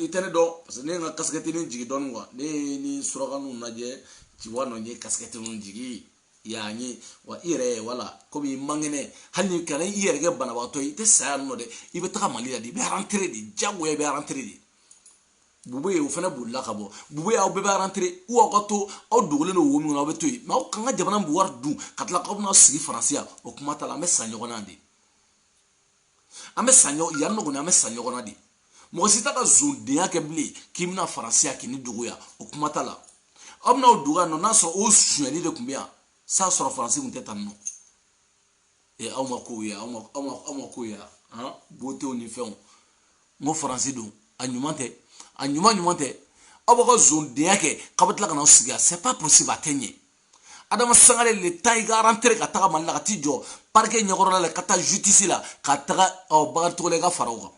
i tɛ ne dɔn parce que ne ye n ka kasikɛtini jigi dɔɔni kuwa ne ye ni suraka ninnu lajɛ ciwa nɔ ye kasikɛtini jigi y'a ye wa i yɛrɛ wala komi i man kɛnɛ hali ni kana i yɛrɛ kɛ banabagatɔ ye i tɛ sa yan nɔ dɛ i bɛ taga mali la de i bɛ arantere de jagoya i bɛ arantere de bubeye o fana bolila ka bɔ bube aw bɛɛ bɛ arantere ou aw ka to aw dogolen don wo min kɔnɔ aw bɛ to yen mɛ aw k'an ka jamana bɛɛ wari dun ka tila k'aw bɛna sigi faransi yan o kuma t'a la an bɛ sa ɲɔgɔn na de an bɛ sa ɲɔgɔn yan nɔ kɔni an bɛ sa ɲɔgɔn na de mɔgɔ si t'a ka zondenya kɛ bilen k'i bɛna faransi yan k'i ni dogo yan o kuma t'a la aw bɛna aw dogo yan nɔ n'a sɔrɔ o sonyali de tun bɛ yan s'a sɔrɔ faransi tun tɛ tan nɔ ee aw ma kow ye aw ma aw ma aw ma kow ye han botew ni fɛnw n ko faransi don a ɲuman tɛ a ɲuman ɲuman tɛ aw b'aw ka zondenya kɛ k'aw bɛ tila ka n'aw sigi yan c'est pas possible a tɛ ɲɛ adama sangare le temps i ka arantere ka taga mali la ka t'i jɔ parike ɲɛkɔrɔla la ka taa jutisi la ka taga ɔ bakari togola i ka fara o kan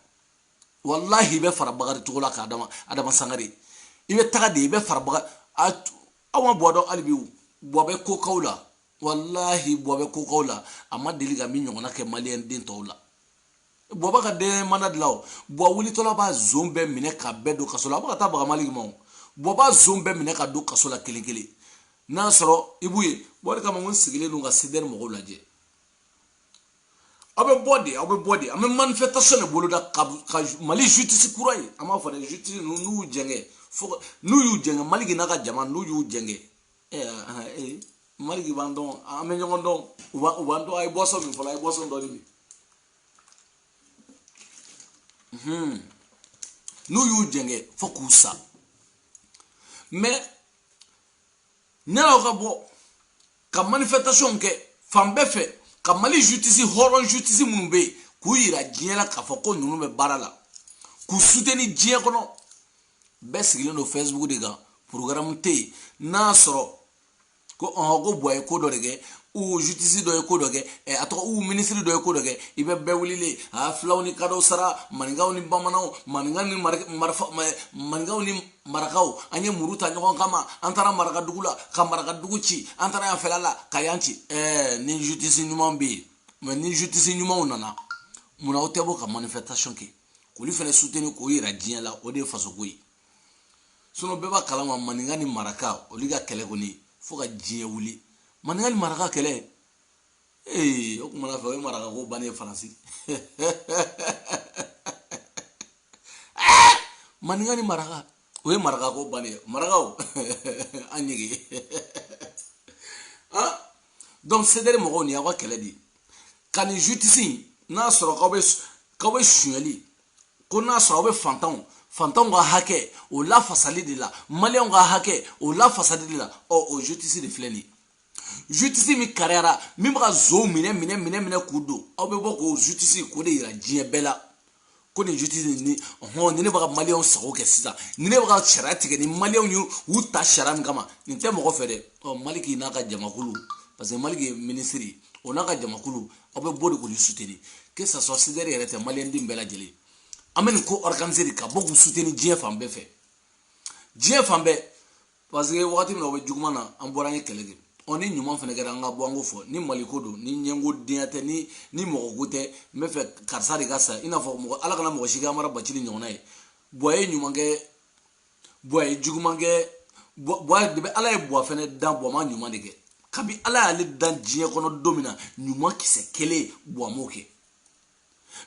walahi i bɛ fara bakari togola kan adama adama sangare i bɛ taga de i bɛ fara bakari aw ma buwa dɔn hali bi buwa bɛ ko k'aw la walahi buwa bɛ ko k'aw la a ma deli ka min ɲɔgɔnna kɛ maliyɛn den tɔw la buwa b'a ka jamana dilan o buwa wulitɔla b'a zon bɛɛ minɛ ka bɛɛ don kaso la a bɛ ka taa baga maliki ma o buwa b'a zon bɛɛ minɛ ka don kaso la kelen kelen n'a sɔrɔ i b'u ye buwa de kama ko n sigilen don ka sedere mɔgɔw lajɛ aw bɛ bɔ de aw bɛ bɔ de an bɛ manifestation de boloda ka ka mali justice kura ye an b'a fɔ dɛ justice ninnu n'u y'u jɛngɛ fo n'u y'u jɛngɛ maliki n'a ka jama n'u y'u jɛngɛ maliki b'an dɔn an bɛ ɲɔgɔn dɔn u b'an dɔn a ye boisson min fɔlɔ a ye boisson dɔ de min n'u y'u jɛngɛ fo k'u sa mɛ ne n'aw ka bɔ ka manifestation kɛ fan bɛɛ fɛ ka mali jutisi hɔrɔn jutisi minnu bɛ yen k'u yira diɲɛ la k'a fɔ ko ninnu bɛ baara la k'u suteni diɲɛ kɔnɔ bɛɛ sigilen don facebook de kan programme tɛ yen n'a sɔrɔ ko ɔhɔn ko buwa ye ko dɔ de kɛ ou jutisi dɔ ye ko dɔ kɛ ɛ a tɔgɔ ou minisiri dɔ ye ko dɔ kɛ i bɛ bɛɛ wulilen a filaw ni kadɔw sara maninkaw ni bamananw maninkaw ni marifa maninkaw ni marakaw an ye muru ta ɲɔgɔn kama an taara marakadugu la ka marakadugu ci an taara yan fɛla la ka yan ci ɛɛ ni jutisi ɲuman bɛ yen mɛ ni jutisi ɲumanw nana munna aw tɛ bɔ ka manifestation kɛ k'olu fana suteni k'o yira diɲɛ la o de ye fasoko ye sinɔn bɛɛ b'a kalama maninka ni maraka olu ka kɛlɛ kɔni fo ka diɲɛ wuli maninka ni maraka kɛlɛ ee o kumana fɛ o ye maraka ko bannen ye faransi maninka ni maraka o ye maraka ko bannen ye marakaw an ɲege donc sedere mɔgɔw nin aw ka kɛlɛ de ye ka nin justice in n'a sɔrɔ k'aw bɛ k'aw bɛ sonyali ko n'a sɔrɔ aw bɛ fantanw fantanw ka hakɛ o lafasali de la maliyɛnw ka hakɛ o lafasali de la ɔ o justice de filɛ nin ye justice min kariyara min bɛ ka zow minɛ minɛ minɛ minɛ k'u don aw bɛ bɔ k'o justice k'o de yira diɲɛ bɛɛ la ko nin juti nin ni hɔn ni ne bɛ ka maliyɛnw sago kɛ sisan ni ne bɛ ka sariya tigɛ ni maliyɛnw ye u ta sariya min kama nin tɛ mɔgɔ fɛ dɛ ɔ maliki n'a ka jamakulu parce que maliki ye minisiri o n'a ka jamakulu aw bɛ bɔ de k'olu suteni que ça soit cdr yɛrɛ tɛ maliyɛn den bɛɛ lajɛlen an bɛ nin ko organiser de ka bɔ k'u suteni diɲɛ fan bɛɛ fɛ diɲɛ fan bɛɛ parce que wagati min na o bɛ juguman na an bɔra an ye kɛlɛ kɛ ɔ ni ɲuman fɛnɛ kɛra an ka bɔ an k'o fɔ ni maliko don ni ɲɛngo denya tɛ ni ni mɔgɔko tɛ n bɛ fɛ karisa de ka sa i n'a fɔ mɔgɔ ala kana mɔgɔ si kɛ amara bacili ɲɔgɔnna ye buwa ye ɲuman kɛ buwa ye juguman kɛ buwa de bɛ ala ye buwa fɛnɛ dan buwa ma ɲuman de kɛ kabi ala y'ale dan diɲɛ kɔnɔ don min na ɲuman kisɛ kelen buwa m'o kɛ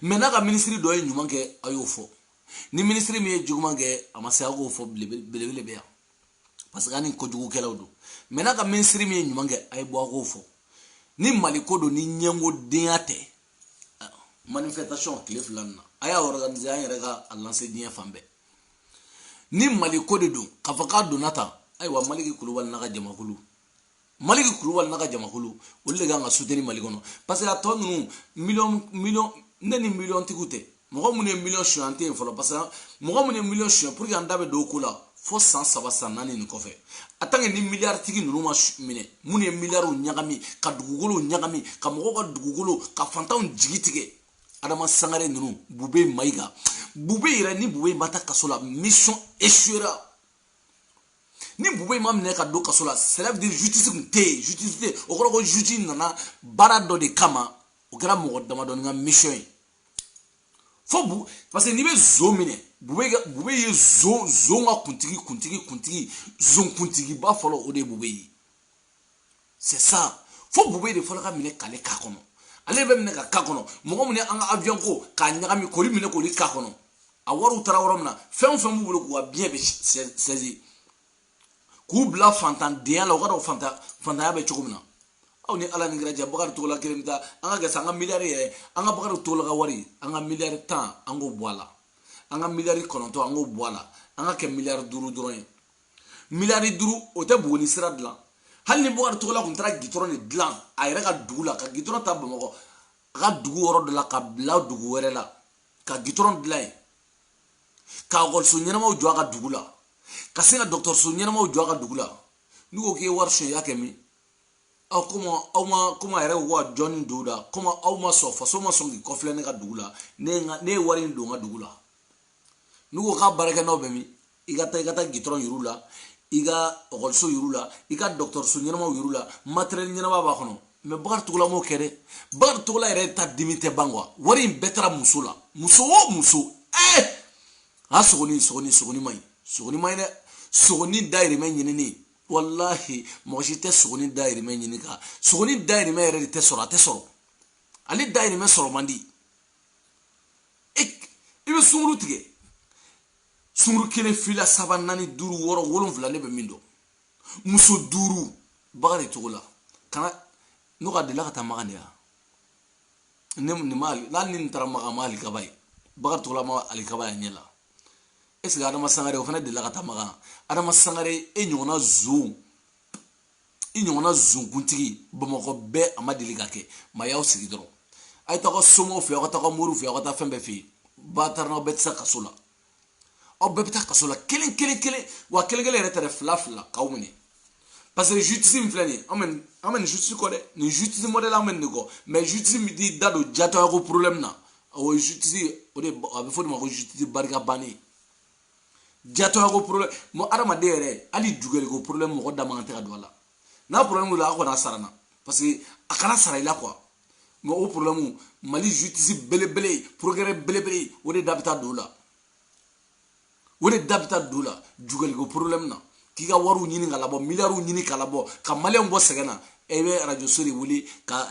mais n'a ka minisiri dɔ ye ɲuman kɛ a y'o fɔ ni minisiri min ye juguman kɛ a ma se a k'o fɔ belebele bɛ yan parce que a ni kojugukɛlaw don mais n'a ka minisiri min ye ɲuman kɛ a ye bɔ a k'o fɔ ni mali ko don ni ɲɛngodenya tɛ manifestation tile fila nin na a y'a organiser an yɛrɛ ka a lanse diɲɛ fan bɛɛ ni mali ko de don k'a fɔ k'a donna tan ayiwa maliki kulubali n'a ka jamakulu maliki kulubali n'a ka jamakulu olu de kan ka suteni mali kɔnɔ parce que a tɔ ninnu miliyɔn miliyɔn ne ni miliyɔn tigiw tɛ mɔgɔ minnu ye miliyɔn suɲɛ an tɛ yen fɔlɔ parce que mɔgɔ minnu ye miliyɔn suɲɛ pour que an da bɛ don o ko la fo san saba san naani nin kɔfɛ en tant que ni miliyari tigi ninnu ma minɛ minnu ye miliyariw ɲagami ka dugukolow ɲagami ka mɔgɔw ka dugukolo ka fantanw jigi tigɛ adama sangare ninnu bube mayiga bube yɛrɛ ni bube ma taa kaso la mission échouera ni bube in ma minɛ ka don kaso la c'est-à-dire justice kun tɛ yen justice tɛ yen o kɔrɔ ko juge nana baara dɔ de kama o kɛra mɔgɔ damadɔni ka mission ye fo bu parce que n'i bɛ zo minɛ bube bube ye zo zo ka kuntigi kuntigi kuntigi zon kuntigiba fɔlɔ o de ye bube ye c'est ça fo bube de fɔlɔ ka minɛ k'ale k'a kɔnɔ ale bɛ minɛ ka ka kɔnɔ mɔgɔ minnu y'an ka avion ko k'a ɲagami k'olu minɛ k'olu ka kɔnɔ a wariw taara yɔrɔ min na fɛn o fɛn b'u bolo k'u ka biens bɛɛ sɛzi k'u bila fantandenya la u ka dɔn fantan fantanya bɛ cogo min na aw ni ala ni kira cɛ bakari togola kelen bɛ taa an k'a kɛ sa an ka miliyari yɛrɛ an ka bakari togola ka wari an ka miliyari tan an k'o bɔ a la an ka miliyari kɔnɔntɔn an k'o bɔ a la an k'a kɛ miliyari duuru dɔrɔn ye miliyari duuru o tɛ buguni sira dilan hali ni bakari togola kun taara gitɔrɔn de dilan a yɛrɛ ka dugu la ka gitɔrɔn ta bamakɔ a ka dugu yɔrɔ dɔ la ka bila dugu wɛrɛ la ka gitɔrɔn dilan yen ka ekɔliso ɲɛnamaw jɔ a ka dugu la ka se ka dɔgɔtɔrɔso ɲɛnamaw jɔ a ka dugu la n'u ko k'i ye wari sonyɛ i y'a kɛ min aw komi aw ma komi a yɛrɛ ko ka jɔnni don da komi aw ma sɔn faso ma sɔn k'i kɔfilɛ ne ka dugu la ne ye wari in don n ka dugu la n'u ko k'a baarakɛnɔw bɛ min i ka taa i ka taa gitɔrɔn yir'u la i ka ekɔliso yir'u la i ka dɔgɔtɔrɔso ɲɛnamaw yir'u la matɛrɛli ɲɛnama b'a kɔnɔ mɛ bakari togola m'o kɛ dɛ bakari togola yɛrɛ ta dimi tɛ ban kuwa wari in bɛɛ taara muso la muso o muso ɛɛ eh! a sogoni sogoni sogoni man ɲi sogoni man ɲi dɛ sogoni dayirimɛ ɲinini walahi mɔgɔ si tɛ sogoni dayirimɛ ɲini ka sogoni dayirimɛ yɛrɛ de tɛ sɔrɔ a tɛ sɔrɔ ale dayirimɛ sɔrɔ man di e, i bɛ sunguru tigɛ sunguru kelen fila saba naani duuru wɔɔrɔ wolonfila ne bɛ min dɔn muso duuru bakari togola kana n'o ka delila ka taa makan de yan ne nin ma n'ale ni nin taara makan ma alikaba ye bakari togola ma alikaba ye a ɲɛ la est ce que adama sangare o fana delila ka taa makan adama sangare e ɲɔgɔnna zon i ɲɔgɔnna zonkuntigi bamakɔ bɛɛ a ma deli ka kɛ ma y'aw sigi dɔrɔn a ye taga somaw fɛ aw ka taga moriw fɛ aw ka taa fɛn bɛɛ fɛ yen batara n'aw bɛɛ tɛ se kaso la aw bɛɛ bɛ taa kaso la kelen kelen kelen wa kelen kelen yɛrɛ tɛ dɛ fila fila k'aw minɛ parce que jutisi min filɛ nin ye an bɛ an bɛ nin jutisi kɔ dɛ nin jutisi mɔdɛli an bɛ nin de kɔ mɛ jutisi min t'i da don jatɔya ko porobilɛmu na o ye jutisi o de a bɛ fɔ o de ma ko jutisi barika bannen jatɔyako problème mɔgɔ adamaden yɛrɛ hali jugɛliko problème mɔgɔ da man kan tɛ ka don a la n'a problème wulila a kɔni sarana parce que a kana sara i la quoi mɛ o problème mali justice belebele procureur belebele o de da bɛ taa don o la o de da bɛ taa don o la jugɛliko problème na k'i ka wariw ɲini ka labɔ miliyariw ɲini ka labɔ ka maliyɛnw bɔ sɛgɛn na e bɛ arajoso de wele ka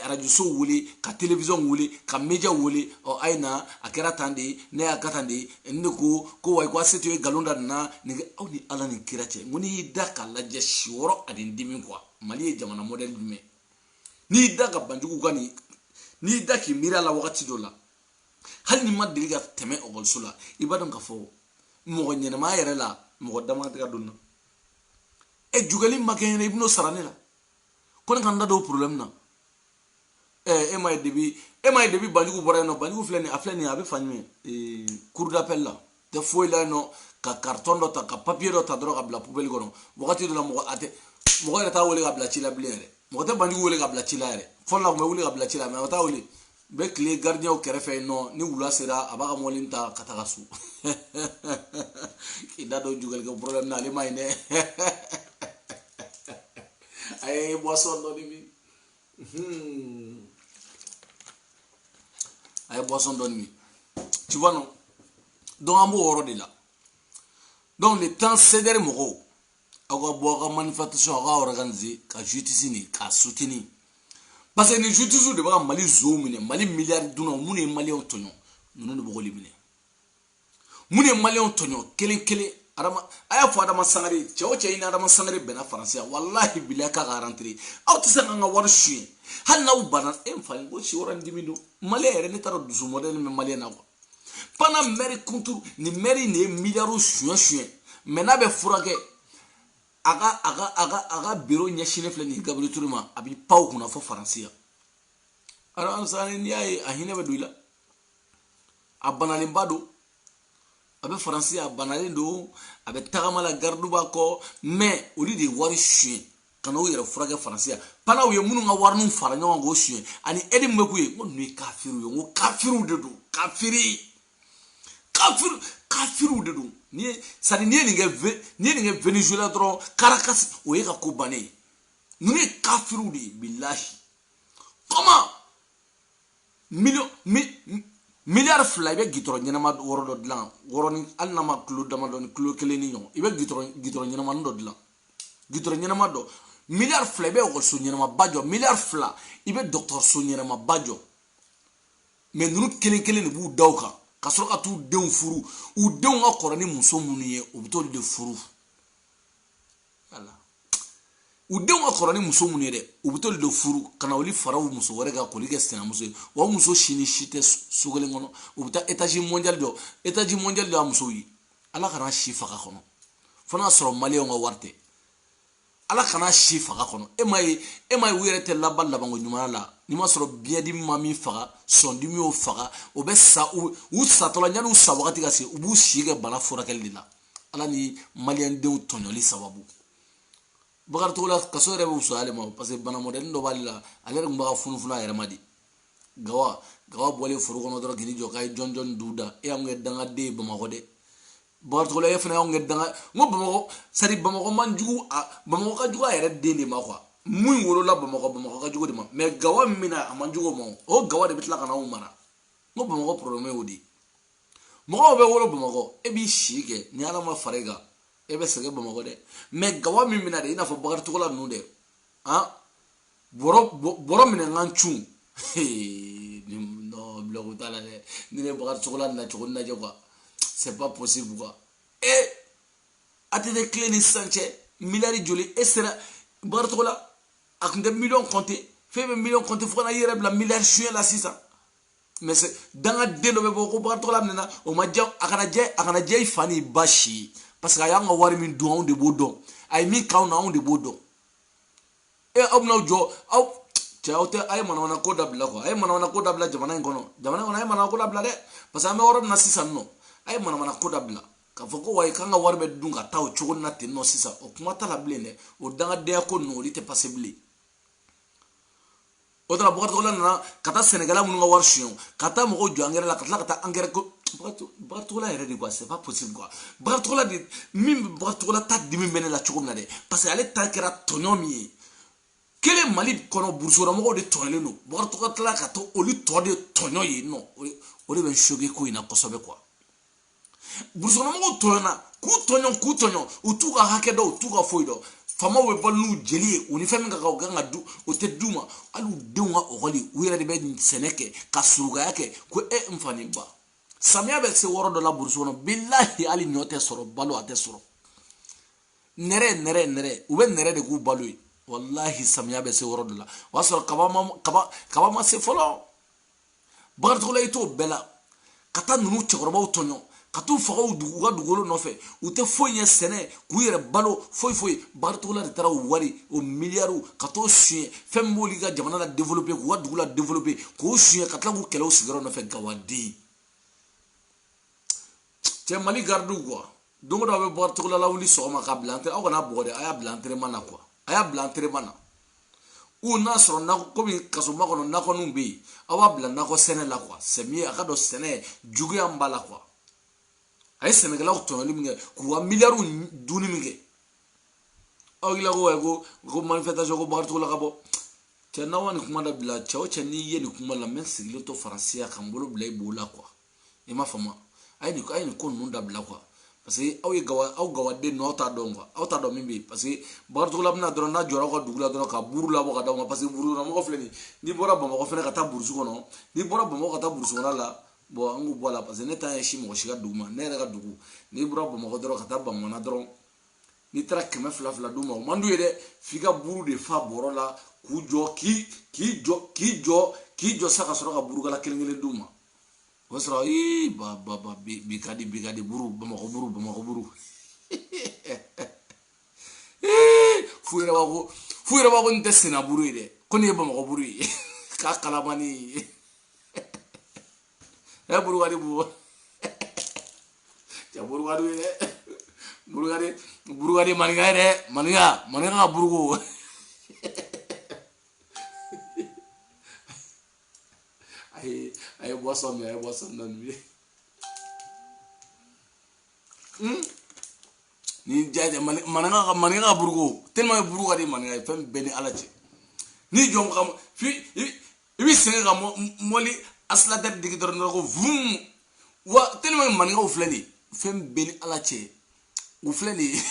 arajoso wele ka telewisɔn wele ka meja wele ɔ a ye na a kɛra tan de ye ne y'a kɛ tan de ye ne de ko ko wa ko a se to ye nkalon da nin na nin aw ni ala ni kira cɛ n ko n'i y'i da k'a lajɛ si wɔɔrɔ ani dimi kuwa mali ye jamana mɔdɛli jumɛn n'i y'i da ka banjugu ka nin n'i y'i da k'i miiri a la wagati dɔ la hali n'i ma deli ka tɛmɛ ekɔliso la i b'a dɔn k'a fɔ mɔgɔ ɲɛnamaya yɛrɛ la mɔgɔ da man kan tɛ ka don na ɛ jugɛli ma kɛ n ɲɛna i bɛn'o sara ne la ko ne ka n da don o problème na ɛ e m'a ye depuis e m'a ye depuis banjugu bɔra yen nɔ banjugu filɛ nin a filɛ nin a bɛ fa ɲɛ cour d'appel la tɛ foyi la yen nɔ ka karitɔn dɔ ta ka papiye dɔ ta dɔrɔn ka bila pubeli kɔnɔ wagati dɔ la mɔgɔ a tɛ mɔgɔ yɛrɛ t'a wele ka bila ci la bilen yɛrɛ mɔgɔ tɛ banjugu wele ka bila ci la yɛrɛ fɔlɔ la tun bɛ wele ka bila ci la mɛ o t'a wele bɛ tile garidiɲɛw kɛrɛfɛ yen nɔ ni wula sera a b'a ka mɔbili ta ka taga so k'i da don jugalikɛ problème na ale ma ɲi dɛ a ye boisson dɔɔni min Hmm. a ye boisson dɔɔni min tu vois non donc an b'o yɔrɔ de la donc le temps cdr mɔgɔw aw ka bɔ aw ka manifestation aw ka organiser ka justice nin k'a soutenir parce que nin justice de bɛ ka mali zonw minɛ mali miliyari dunnaw minnu ye maliyɛnw tɔɲɔ ninnu de b'o de minɛ minnu ye maliyɛnw tɔɲɔ kelen kelen adama a y'a fɔ adama sangare cɛ o cɛ i ni adama sangare bɛnna faransi yan walahi bilahi k'a ka arantere aw tɛ se k'an ka wari suɲɛ hali n'aw banna e n fa ko si wɛrɛ n dimi don maliyɛn yɛrɛ ne t'a dɔn dusu mɔdɛli min maliyɛn na kuwa pendant mɛri kuntu nin mɛri nin ye miliyariw suɲɛ suɲɛ mɛ n'a bɛ furakɛ a ka a ka a ka a ka biro ɲɛsinnen filɛ nin gabiriyɛli ture ma a b'i pan o kunna fo faransi yan adama sangare n'i y'a ye a hinɛ bɛ don i la a banalenba don a bɛ faransi a banalen don a bɛ tagama la garidu b'a kɔ mɛ olu de ye wari suɲɛ ka n'u yɛrɛ furakɛ faransi yan pendant u ye minnu ka wariniw fara ɲɔgɔn kan k'o suɲɛ ani ɛdi min bɛ k'u ye n ko ninnu ye kafiriw ye n ko kafiriw de don kafiri kafiri kafiriw de don ni ye sani n'i ye nin kɛ n'i ye nin kɛ venezuela dɔrɔn karakasi o y'i ka ko bannen ye ninnu ye kafiriw de ye bilahi kɔma miliyari fila i bɛ gitɔrɔ ɲɛnama yɔrɔ dɔ dilan yɔrɔnin hali n'a ma kilo damadɔ ni kilo kelen ni ɲɔgɔn i bɛ gitɔrɔ gitɔrɔ ɲɛnamani dɔ dilan gitɔrɔ ɲɛnama dɔ miliyari fila i bɛ ekɔliso ɲɛnamaba jɔ miliyari fila i bɛ dɔgɔtɔrɔso ɲɛnamaba jɔ mɛ ninnu kelen kelen de b'u da o kan ka sɔrɔ ka t'u denw furu u denw ka kɔrɔ ni muso minnu ye u bɛ t'olu de furu u denw ka kɔrɔ ni muso minnu ye dɛ u bɛ t'olu de furu ka na olu fara u muso wɛrɛ kan k'olu kɛ sinamuso ye wa o muso si ni si tɛ so kelen kɔnɔ u bɛ taa etazi mɔndiyali dɔ etazi mɔndiyali dɔ y'a musow ye ala kana si faga kɔnɔ fo n'a sɔrɔ maliyɛnw ka wari tɛ ala kana si faga kɔnɔ e ma ye e ma ye u yɛrɛ tɛ laban labanko ɲuman na ni ma sɔrɔ biyɛndimi ma min faga sɔndimi y'o faga o bɛ sa u satɔla yanni u sa wagati ka se u b'u si kɛ bana furakɛli de la ala ni maliyɛndenw tɔɲɔli sababu bakari togola kaso yɛrɛ bɛ wusaya ale ma parce que bana mɔdɛli dɔ b'ale la ale yɛrɛ tun b'a ka funufunu a yɛrɛ man di gawa gawa bɔlen foro kɔnɔ dɔrɔn k'i jɔ k'a ye jɔn jɔn duw da e y'an kɛ dangaden ye bamakɔ dɛ bakari togola e fana y'an kɛ danga n ko bamakɔ sari bamakɔ man jugu a bamakɔ ka jugu a yɛrɛ den de ma kuwa min wolola bamakɔ bamakɔ ka jugu de ma mɛ gawa min bɛ na a man jugu o ma o gawa de bɛ tila ka na anw mara n ko bamakɔ poroblɛmu y'o de ye mɔgɔw bɛ wolo bamakɔ e b'i si kɛ ni ala ma fara i kan e bɛ sɛgɛn bamakɔ dɛ mais gawa min bɛ na de i n'a fɔ bakari togola ninnu dɛ an bɔrɔ minɛ ka na cun blague t'a la dɛ ni ne bakari togola nacogo lajɛ quoi c'est pas possible quoi ATT tile ni sisan cɛ miliyari joli e sera bakari togola a tun tɛ miliyɔn compter f'e bɛ miliyɔn compter fo ka na i yɛrɛ bila miliyari suɲɛ la sisan mais c'est dangaden dɔ bɛ bɔ ko bakari togola minɛna o ma diya a kana diya a kana diya i fa ni ba si ye parce que a y'an ka wari min dun anw de b'o dɔn a ye min k'anw na anw de b'o dɔn e aw bɛna jɔ aw cɛ aw tɛ a ye manamana ko dabila quoi a ye manamana ko dabila jamana in kɔnɔ jamana in kɔnɔ a ye manamana ko dabila dɛ parce que an bɛ yɔrɔ min na sisan non a ye manamana ko dabila k'a fɔ ko wayi k'an ka wari bɛ dun ka taa o cogo na ten non sisan o kuma t'a la bilen dɛ o dangadenya ko ninnu olu tɛ passer bilen o tara bakari togola nana ka taa sɛnɛkɛla minnu ka wari suɲɛ ka taa mɔgɔw jɔ angɛrɛ la ka tila ka taa angɛrɛ ko bakari togola yɛrɛ de quoi c'est pas possible quoi bakari togola de min bakari togola ta dimi bɛ ne la cogo min na dɛ parce que ale ta kɛra tɔɲɔ min ye kelen mali kɔnɔ burusikɔnɔmɔgɔw de tɔɲɔlen don bakari togola ka to olu tɔ de tɔɲɔ ye non o de bɛ n choquer ko in na kosɛbɛ quoi burusikɔnɔmɔgɔw tɔɲɔna k'u tɔɲɔ k'u tɔɲɔ u t'u ka hakɛ dɔn u t'u ka foyi dɔn faamaw bɛ balo n'u jeli ye u ni fɛn min ka kan u kan ka d'u o tɛ d'u ma hali u denw ka ekɔli u yɛrɛ de bɛ sɛnɛ kɛ ka surugaya kɛ ko e n fa ni ba samiya bɛ se yɔrɔ dɔ la burusi kɔnɔ bilahi hali ɲɔ tɛ sɔrɔ balo a tɛ sɔrɔ nɛrɛ nɛrɛ nɛrɛ u bɛ nɛrɛ de k'u balo ye walahi samiya bɛ se yɔrɔ dɔ la o y'a sɔrɔ kaba ma kaba kaba ma se fɔlɔ bakari togola i t'o bɛɛ la ka taa ninnu cɛkɔrɔbaw tɔɲɔ ka t'u faga u ka dugukolo nɔfɛ u tɛ foyi ɲɛ sɛnɛ k'u yɛrɛ balo foyi foyi bakari togola de taara o wari o miliyariw ka t'o suɲɛ fɛn min b'olu ka jamana la développer k'u ka dugu la développer k'o suɲɛ ka tila k'u kɛlɛ u sigiyɔrɔ nɔfɛ gawaden cɛ mali garidiw quoi don o don aw bɛ bakari togola lawuli sɔgɔma k'a bila aw kan'a bugɔ dɛ a y'a bila entraînement na quoi a y'a bila entraînement na ou n'a sɔrɔ nakɔ komi kasoba kɔnɔ nakɔninw bɛ yen aw b'a bila nakɔ sɛnɛ la quoi c'est mieux a k'a dɔn sɛnɛ juguya min b'a la quoi a ye sɛnɛkɛlaw tɔɲɔli min kɛ k'u ka miliyariw dunni min kɛ aw tila ko ko ko manifestation ko bakari togola ka bɔ cɛ n'aw ka nin kuma dabila cɛ o cɛ n'i ye nin kuma la n bɛ sigilen to faransi yan ka n bolo bila i bo la quoi i m'a faamu a ye nin a ye nin ko ninnu dabila quoi parce que aw ye gawa aw gawaden ninnu aw t'a dɔn quoi aw t'a dɔn min bɛ yen parce que bakari togola bɛ na dɔrɔn n'a jɔra aw ka dugu la dɔrɔn ka buru labɔ ka d'aw ma parce que burusikɔnɔmɔgɔ filɛ nin n'i bɔra bamakɔ fana ka taa burusi kɔnɔ n'i bɔra bamakɔ ka taa burusi kɔnɔ la bon an k'o bɔ a la parce que ne t'a ɲɛsin mɔgɔ si ka dugu ma ne yɛrɛ ka dugu n'i bɔra bamakɔ dɔrɔn ka taa bamana dɔrɔn n'i taara kɛmɛ fila fila d'u ma o man d'u ye dɛ f'i ka buru de fa bɔrɔ la k'u jɔ k'i k'i jɔ k'i jɔ k'i jɔ sa ka sɔrɔ ka burukala kelen kelen d'u ma o sɔrɔ ii ba ba ba bi bi ka di bi ka di buru bamakɔ buru bamakɔ buru f'u yɛrɛ b'a ko f'u yɛrɛ b'a ko nin tɛ senna buru ye dɛ ko nin ye bamakɔ buru ye k'a kalamani ye ɛ buru ka di bu cɛ buru ka di ye dɛ buru ka di buru ka di maninka ye dɛ maninka maninka ka buruko a ye a ye boisson min a ye boisson dɔ min ye ni jaja maninka ka maninka ka buruko tellement que buruko ka di maninka ye fɛn bɛɛ ni ala cɛ ni jɔn ka fi i bɛ sɛgɛn ka mɔli accélérateur digi dɔrɔn dɔrɔn ko vum wa tellement que maninkaw filɛ nin ye fɛn bɛɛ ni ala cɛ u filɛ nin ye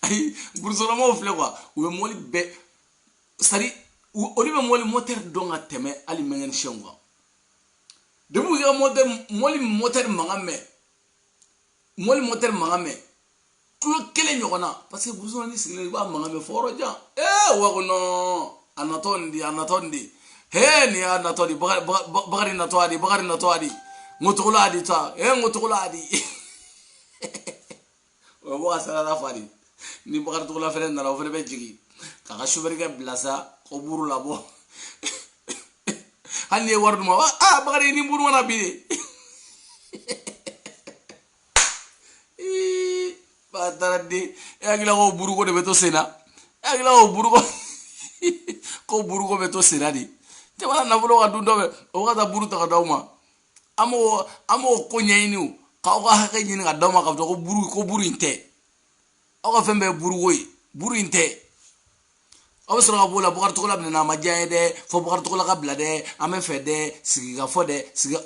ayi burusilamɔgɔw filɛ quoi u bɛ mɔli bɛɛ sari olu bɛ mɔli motɛri dɔn ka tɛmɛ hali mekanisiyɛnw kan depuis u y'a ka mɔli motɛri mankan mɛn mɔli motɛri mankan mɛn kilo kelen ɲɔgɔn na parce que burusi kɔnɔ n'i sigilen i b'a mankan mɛn fɔ yɔrɔ jan ee wa ko nɔn a natɔ nin de a natɔ nin de hee nin y'a natɔ de bakari bakari natɔ a de bakari natɔ a de n ko togola a de ta ee n ko togola a de o ye bɔ ka sarada fa de ni bakari togola fɛnɛ nana o fɛnɛ bɛ jigin k'a ka sofɛrikɛ bila sa ko buru labɔ hali n'i ye wari d'u ma a bakari ni buru mana bi de bataraden e hakilila ko buruko de bɛ to sen na e hakilila ko buruko ko buruko bɛ to sen na de jamana nafolo ka dun dɔ bɛ o ka taa buru ta ka d'aw ma an m'o ko ɲɛɲini o k'aw ka hakɛ ɲini ka d'aw ma k'a fɔ ko buru ko buru in tɛ aw ka fɛn bɛɛ ye buruko ye buru in tɛ aw bɛ sɔrɔ ka b'o la bakari togola minɛna a ma diya ye dɛ fo bakari togola ka bila dɛ an bɛ fɛ dɛ sigikafɔ dɛ sigi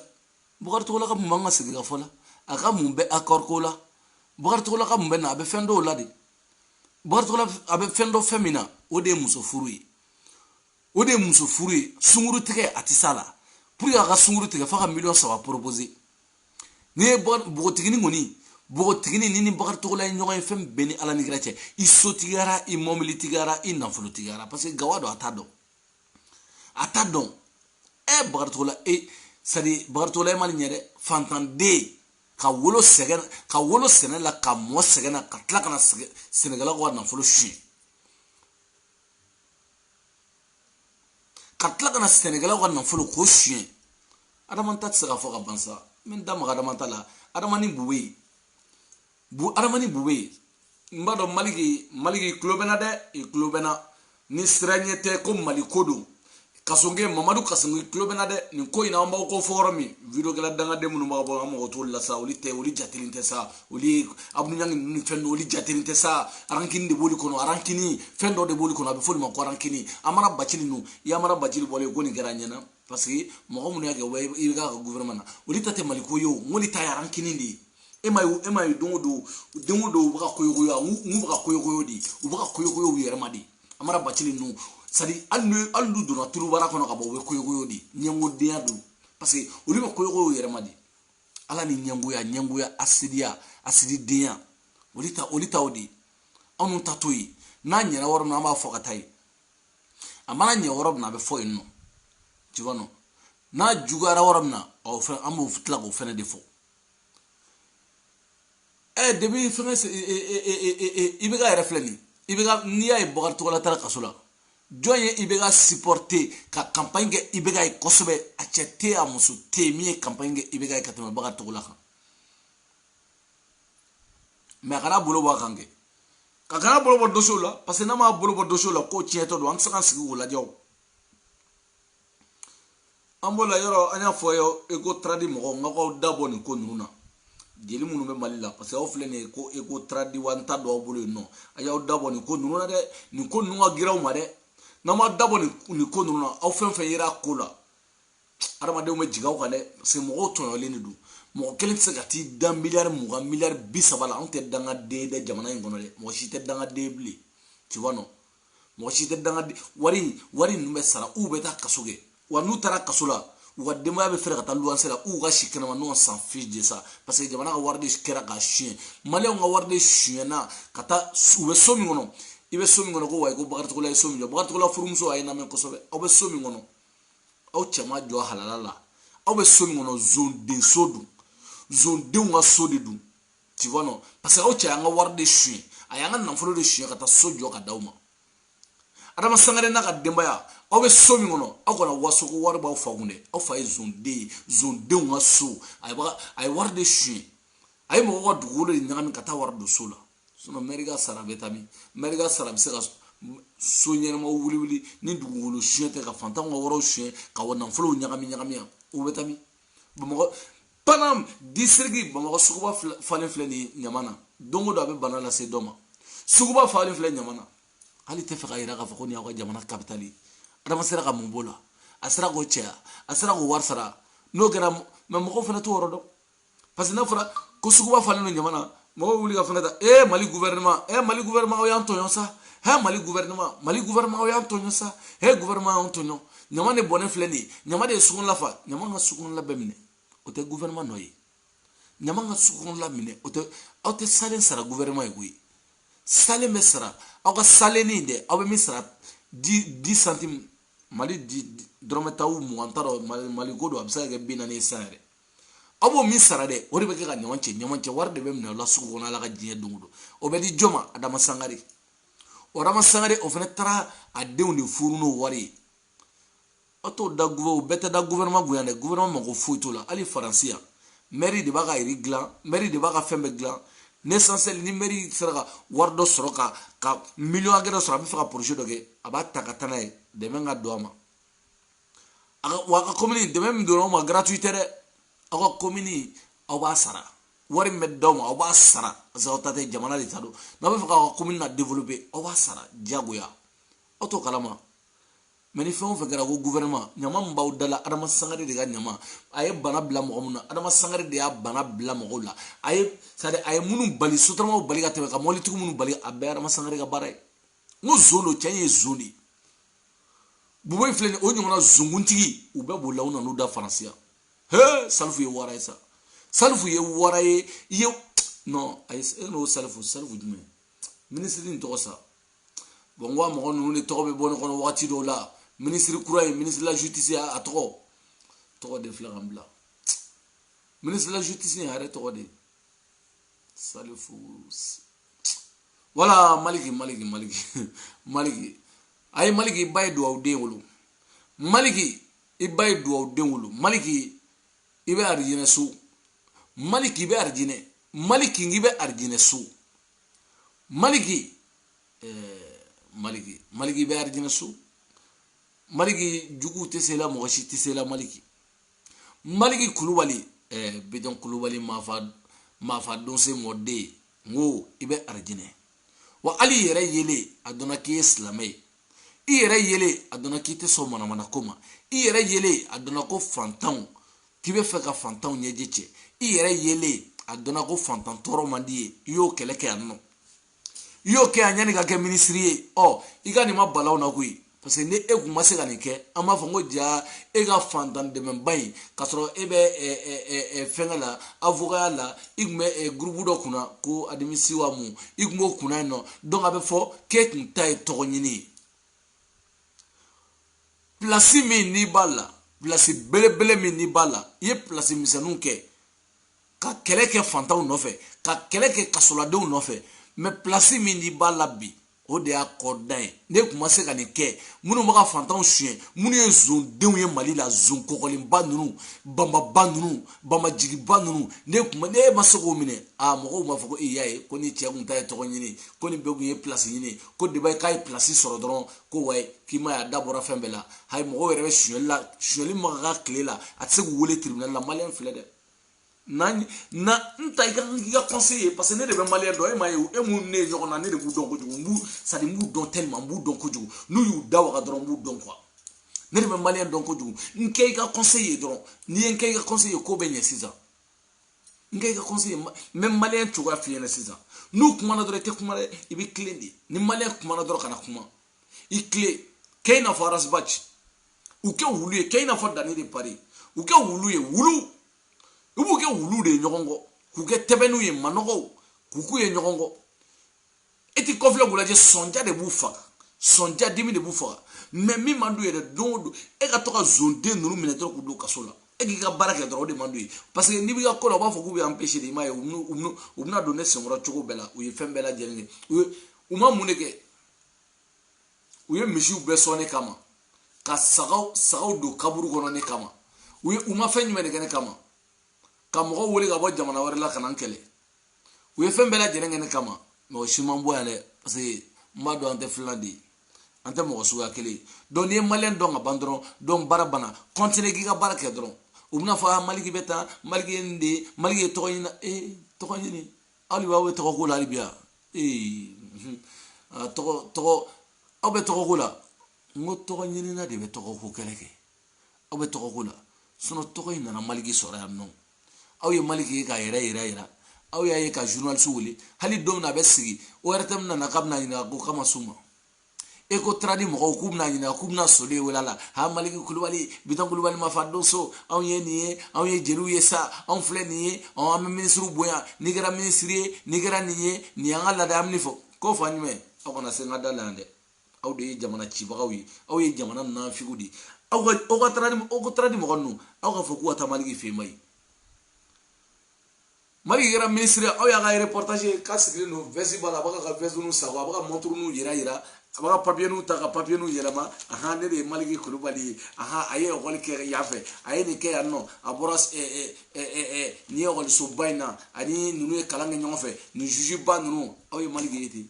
bakari togola ka mun b'an ka sigikafɔ la a ka mun bɛ accord ko la bakari togola ka mun bɛ na a bɛ fɛn dɔw la de bakari togola a bɛ fɛn dɔ fɛn min na o de ye muso furu ye o de ye muso furu ye sunguru tigɛ a tɛ s'a la pour que a ka sunguru tigɛ f'a ka miliyɔn saba proposer n'i ye npogotigini kɔni npogotigini ni ni bakari togola ye ɲɔgɔn ye fɛn bɛɛ ni ala ni kira cɛ i sotigiyara i mɔbilitigiyara i nafolotigiyara parce que gawa don a t'a dɔn a t'a dɔn ɛ bakari togola e sadi bakari togola e ma nin ɲɛ dɛ fantanden ka wolo sɛgɛn ka wolo sɛnɛ la ka mɔ sɛgɛn na ka tila ka na sɛnɛkɛlaw ka nafolo suɲɛ ka tila ka na sɛnɛkɛlaw ka nafolo k'o suɲɛ adama ta tɛ se ka fɔ ka ban sa n bɛ n da maga adama ta la adama ni bu bɛ yen bu adama ni bu bɛ yen n b'a dɔn maliki maliki tulo bɛ n na dɛ i tulo bɛ n na ni siranya tɛ ko mali ko don kasonge mamadu kasonge tulo bɛ n na dɛ nin ko in na an b'aw ko fɔ yɔrɔ min videokɛla dangaden minnu b'a bɔ an mɔgɔ t'olu la sa olu tɛ olu jatelen tɛ sa olu ye abudu ɲangi ninnu ni fɛn dɔ olu jatelen tɛ sa arankini de b'olu kɔnɔ arankini fɛn dɔ de b'olu kɔnɔ a bɛ f'olu ma ko arankini amara bacili ninnu i amara bacili bɔlen ko nin kɛra an ɲɛna parce que mɔgɔ minnu y'a kɛ wa ibk ka gouvernement na olu ta tɛ mali ko ye o n k'olu ta ye arankini de ye e ma ye e ma ye don o don don o don u bɛ ka koyokoyo a u bɛ ka koyokoyo de u bɛ ka koyokoyo u yɛrɛ ma de amara bacili ninnu sadi hali n'u hali n'u donna tulubara kɔnɔ ka bɔ u bɛ koyokoyo de ɲɛngodenya don parce que olu bɛ koyokoyo u yɛrɛ ma de ala ni ɲɛngoya ɲɛngoya asidiya asididenya olu ta olu ta o de anw ta t'o ye n'a ɲɛna yɔrɔ min an b'a fɔ ka taa yen a mana ɲɛ yɔrɔ min na a bɛ fɔ yen nɔ tu vois non n'a juguyara yɔrɔ min na ɔ fɛn an b'o tila k'o fɛnɛ de fɔ ɛ depuis fɛngɛ ibk yɛrɛ filɛ nin ibk n'i y'a ye bakari togola taara kaso la jɔn ye ibk supporter ka campagne kɛ ibk ye kosɛbɛ a cɛ tɛ a muso tɛ yen min ye campagne kɛ ibk ye ka tɛmɛ bakari togola kan mais a kana bolo bɔ a kan kɛ ka kana bolo bɔ dossier la parce que n'a m'a bolo bɔ dossier la ko tiɲɛtɔ don an tɛ se ka sigi k'o lajɛ o an b'o la yɔrɔ an y'a fɔ aw ye recotrade mɔgɔw n ka k'aw da bɔ nin ko ninnu na jeli minnu bɛ mali la parce que aw filɛ nin ye ko recotrade wa n t'a dɔn aw bolo yen nɔ a y'aw da bɔ nin ko ninnu na dɛ nin ko ninnu ka girin aw ma dɛ n'aw ma da bɔ nin ko ninnu na aw fɛn fɛn yera ko la adamadenw bɛ jigin aw kan dɛ parce que mɔgɔw tɔɲɔlen de don mɔgɔ kelen tɛ se ka t'i da miliyari mugan miliyari bi saba la anw tɛ dangaden ye dɛ jamana in kɔnɔ dɛ mɔgɔ si tɛ dangaden ye bilen tu vois non mɔgɔ si tɛ danga wari wari ninnu bɛ sara u bɛ taa kaso kɛ wa n'u taara kaso la u ka denbaya bɛ fɛɛrɛ ka taa luwanse la u ka si kɛnɛma nous on s'en fiche de ça parce que jamana ka wari de kɛra ka suɲɛ maliyɛnw ka wari de suɲɛna ka taa u bɛ so min kɔnɔ i bɛ so min kɔnɔ ko wayi ko bakari togola ye so min jɔ bakari togola furumuso a ye lamɛn kosɛbɛ aw bɛ so min kɔnɔ aw cɛ m'a jɔ halala la aw bɛ so min kɔnɔ zondenso don zondenw ka so de don tu vois non parce que aw cɛ y'an ka wari de suɲɛ a y'an ka nafolo de suɲɛ ka taa so jɔ ka d'aw ma adama sangare n'a ka denbaya aw bɛ so min kɔnɔ aw kana waso ko wari b'aw fa kun dɛ aw fa ye zonden ye zondenw ka so a ye wari de suɲɛ a ye mɔgɔw ka dugukolo de ɲagami ka taa wari don so la sinon mɛri ka sara bɛ taa min mɛri ka sara bɛ se ka so ɲɛnamaw wuli wuli ni dugukolo suɲɛ tɛ ka fantanw ka wariw suɲɛ ka wa nafolow ɲagami ɲagami yan o bɛ taa min bamakɔ panam disiriki bamakɔ suguba falen filɛ nin ɲama na don o don a bɛ bana lase dɔ ma suguba falen filɛ ɲama na hali i tɛ fɛ k'a yira k'a fɔ ko nin y'aw ka jamana kapitali ye adama sera ka mun b'o la a sera k'o cɛ wa a sera k'o wari sara n'o kɛra mɛ mɔgɔw fana t'o yɔrɔ dɔn parce que n'a fɔra ko suguba falen don ɲama na mɔgɔw wuli ka fɛngɛ ta ee mali guvɛrɛnɛma ee mali guvɛrɛnɛma aw y'an tɔɲɔ sa hɛ mali guvɛrɛnɛma mali guvɛrɛnɛma aw y'an tɔɲɔ sa hɛ guvɛrɛnɛma y'an tɔɲɔ ɲama de bɔnnen filɛ nin ye ɲama de ye sugu nin lafa ɲama ka sugu nin bɛɛ minɛ o tɛ gouvernement nɔ ye ɲama ka sugu nin lamini o tɛ aw tɛ salen sara gouvernement ye koyi salen bɛ sara aw ka salen nin dɛ aw bɛ min sara dix dix centimes mali dɔrɔmɛ tan mugan n t'a dɔn mali mali ko don a bɛ se ka kɛ bi naani ye san yɛrɛ aw b'o min sara dɛ o de bɛ kɛ ka ɲama cɛ ɲama cɛ wari de bɛ minɛ aw la sugu kɔnɔ ala ka diɲɛ don o don o bɛ di jɔn ma adama sangare o adama sangare o fana taara a denw de furu n'o wari ye aw t'o da o bɛɛ tɛ da gouvernement kun yan dɛ gouvernement mago foyi t'o la hali faransi yan mɛri de b'a ka ville dilan mɛri de b'a ka fɛn bɛɛ dilan l'essentiel ni mɛri sera ka wari dɔ sɔrɔ ka ka miliyɔn hakɛ dɔ sɔrɔ a bɛ fɛ ka projet dɔ kɛ a b'a ta ka taa n'a ye dɛmɛ ka don a ma a ka wa a ka komini dɛmɛ min donna aw ma gratuit tɛ dɛ aw ka komini aw b'a sara wari min bɛ d'aw ma aw b'a sara parce que aw ta tɛ jamana de ta don n'aw bɛ fɛ k'aw ka komini na développer aw b'a sara diyagoya aw t'o kalama mɛ ni fɛn o fɛn kɛra ko guvɛrɛnma ɲama min b'aw da la adama sangare de ka ɲama a ye bana bila mɔgɔ min na adama sangare de y'a bana bila mɔgɔw la a ye sadi a ye minnu bali sotaramaw bali ka tɛmɛ ka mɔbilitigiw minnu bali a bɛɛ adama sangare ka baara ye n ko zon don cɛ ye zon de ye bubu in filɛ nin o ɲɔgɔnna zonkuntigi u bɛɛ b'o la u nan'u da faransi yan he salifu ye wara ye sa salifu ye wara ye i ye non ayi e n ko salifu salifu jumɛn minisiri in tɔgɔ sa bɔn n ko a mɔgɔ ninnu de tɔgɔ bɛ bɔ ne kɔnɔ wagati dɔw la minisiri kura ye ministre de la justice a tɔgɔ tɔgɔ de filɛ ka n bila ministre de la justice a yɛrɛ tɔgɔ di salifu wala maliki maliki maliki maliki a ye maliki i ba ye duwawu den wolo maliki i ba ye duwawu den wolo maliki i bɛ arijinɛ so maliki i bɛ arijinɛ maliki i bɛ arijinɛ so maliki maliki maliki i bɛ arijinɛ so maliki jugu tɛ se i la mɔgɔ si tɛ se i la maliki maliki kulubali bitɔn kulubali maafa maafa donso mɔden n ko i bɛ arijinɛ wa hali i yɛrɛ yelen a dɔnna k'i ye silamɛ ye i yɛrɛ yelen a dɔnna k'i tɛ sɔn manamana ko ma i yɛrɛ yelen a dɔnna ko fantanw k'i bɛ fɛ ka fantanw ɲɛji cɛ i yɛrɛ yelen a dɔnna ko fantan tɔɔrɔ man d'i ye i y'o kɛlɛ kɛ yan nɔ i y'o kɛ yan yann'i ka kɛ minisiri ye ɔ i ka nin ma bal'an na koyi parce que ni e kun ma se ka nin kɛ an b'a fɔ n ko ja e ka fantan dɛmɛba in k'a sɔrɔ e bɛ fɛnkɛ la avokaya la i tun bɛ gurupu dɔ kunna ko adimisiwa mun i tun b'o kunna yen nɔ donc a bɛ fɔ k'e kun ta ye tɔgɔ ɲini ye pilasi min n'i b'a la pilasi belebele min n'i b'a la i ye pilasi misɛnninw kɛ ka kɛlɛ kɛ fantanw nɔfɛ ka kɛlɛ kɛ kasoladenw nɔfɛ mɛ pilasi min n'i b'a la bi o de y'a kɔdan ye n'e kun ma se ka nin kɛ minnu bɛ ka fantanw suɲɛ minnu ye zondenw ye mali la zon kɔkɔlenba ninnu banbaba ninnu bamajigiba ninnu n'e kun n'e ma se k'o minɛ a mɔgɔw b'a fɔ ko e y'a ye ko nin cɛ kun ta ye tɔgɔ ɲini ko nin bɛɛ kun ye pilasi ɲini ko deba k'a ye pilasi sɔrɔ dɔrɔn ko wayi k'i m'a y'a da bɔra fɛn bɛɛ la hayi mɔgɔw yɛrɛ bɛ sonyali la sonyali bɛ ka k'a tile la a tɛ se k'u wele tiribinali la maliyɛn filɛ dɛ na na n ta i ka i ka conseiller ye parce que ne de bɛ maliyɛn dɔn e m'a ye e mun ne ye ɲɔgɔn na ne de b'u dɔn kojugu n b'u c'est-à-dire n b'u dɔn tellement n b'u dɔn kojugu n'u y'u da waga dɔrɔn n b'u dɔn quoi ne de bɛ maliyɛn dɔn kojugu n kɛ i ka conseiller ye dɔrɔn n'i ye n kɛ i ka conseiller ye ko bɛ ɲɛ sisan n kɛ i ka conseiller ye n bɛ maliyɛn cogoya f'i ɲɛna sisan n'u kumana dɔrɔn i tɛ kuma dɛ i b'i tilen de ni maliyɛn kumana dɔrɔn kana kuma i tilen kɛ i n'a fɔ ras bath u kɛ wulu ye kɛ i n'a fɔ dani de paris u kɛ wulu ye wulu i b'u kɛ wulu de ye ɲɔgɔn kɔ k'u kɛ ntɛbɛnninw ye manɔgɔw k'u k'u ye ɲɔgɔn kɔ e t'i kɔfilɛ k'u lajɛ sɔnja de b'u faga sɔnja dimi de b'u faga mɛ min man d'u ye dɛ don o don e ka to ka zonden ninnu minɛ dɔrɔn k'u don kaso la e k'i ka baara kɛ dɔrɔn o de man d'u ye parce que n'i b'i ka ko la u b'a fɔ k'u b'i empêcher de i m'a ye u bɛna don ne senkɔrɔ cogo bɛɛ la u ye fɛn bɛɛ lajɛlen kɛ u ye u ma mun de kɛ u ye misiw bɛɛ sɔn ne kama ka sagaw sagaw don kaburu kɔnɔ ne kama u ye u ma fɛn jumɛn de kɛ ne kama ka mɔgɔw wele ka bɔ jamana wɛrɛ la ka na n kɛlɛ u ye fɛn bɛɛ lajɛlen kɛ ne kama mɔgɔ si ma bɔ yan dɛ parce que n b'a dɔn an tɛ filan de ye an tɛ mɔgɔ suguya kelen ye donc n'i ye maliyɛn dɔn ka ban dɔrɔn donc baara banna kɔntine k'i ka baara kɛ dɔrɔn u bɛn'a fɔ a maliki bɛ tan maliki ye nin de ye maliki ye tɔgɔ ɲini ee tɔgɔ ɲini hali b'aw bɛ tɔgɔ ko la hali bi yan ee tɔgɔ tɔgɔ aw bɛ tɔgɔ ko la n ko tɔgɔ ɲinina de bɛ tɔgɔ ko kɛlɛ kɛ aw bɛ tɔgɔ ko la sinɔn tɔgɔ in nana maliki sɔrɔ yan nɔ aw ye maliki ye k'a yɛrɛ yira yira aw y'a ye ka journaliste wele hali don min na a bɛ sigi ORTM nana k'a bɛn'a ɲininka ko k'a ma s'u ma e ko taradi mɔgɔw k'u bɛn'a ɲininka k'u bɛna soli ye wele la ha maliki kulubali bitɔn kulubali mafa donso anw ye nin ye anw ye jeliw ye sa anw filɛ nin ye ɔ an bɛ minisiriw bonya n'i kɛra minisiri ye n'i kɛra nin ye nin y'an ka laada an bɛ nin fɔ k'o fa ɲuman aw kana se n ka da la yan dɛ aw de ye jamana cibagaw ye aw ye jamana nanfigiw de ye aw ka aw ka taara ni aw ka taara ni mɔgɔ ninnu aw ka fɔ k'u ka taa maliki fɛ mais maliki kɛra minisiri aw y'a ka reportage k'a sigilen don vɛsi b'a la a b'a ka vɛsiniw sago a b'a ka mɔnturuniw yira yira a b'a ka papiyeniw ta ka papiyeniw yɛlɛma ahan ne de ye maliki kulubali ye ahan a ye ekɔli kɛ yan fɛ a ye nin kɛ yan nɔ a bɔra nin ekɔlisoba in na a ni ninnu ye kalan kɛ ɲɔgɔn fɛ nin zuziba ninnu aw ye maliki ye ten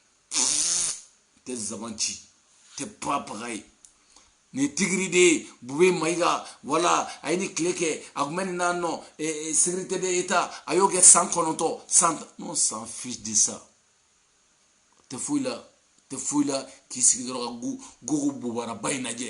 tɛ zaban ci tɛ papaga ye nin tigiri de ye bubɛyi mayiga voilà a ye ni tile kɛ a kun bɛ nin na nɔ sekirite de eta a y'o kɛ san kɔnɔntɔn san on s'en fiche de ça tɛ foyi la tɛ foyi la k'i sigi dɔrɔn ka gogo bobaraba in lajɛ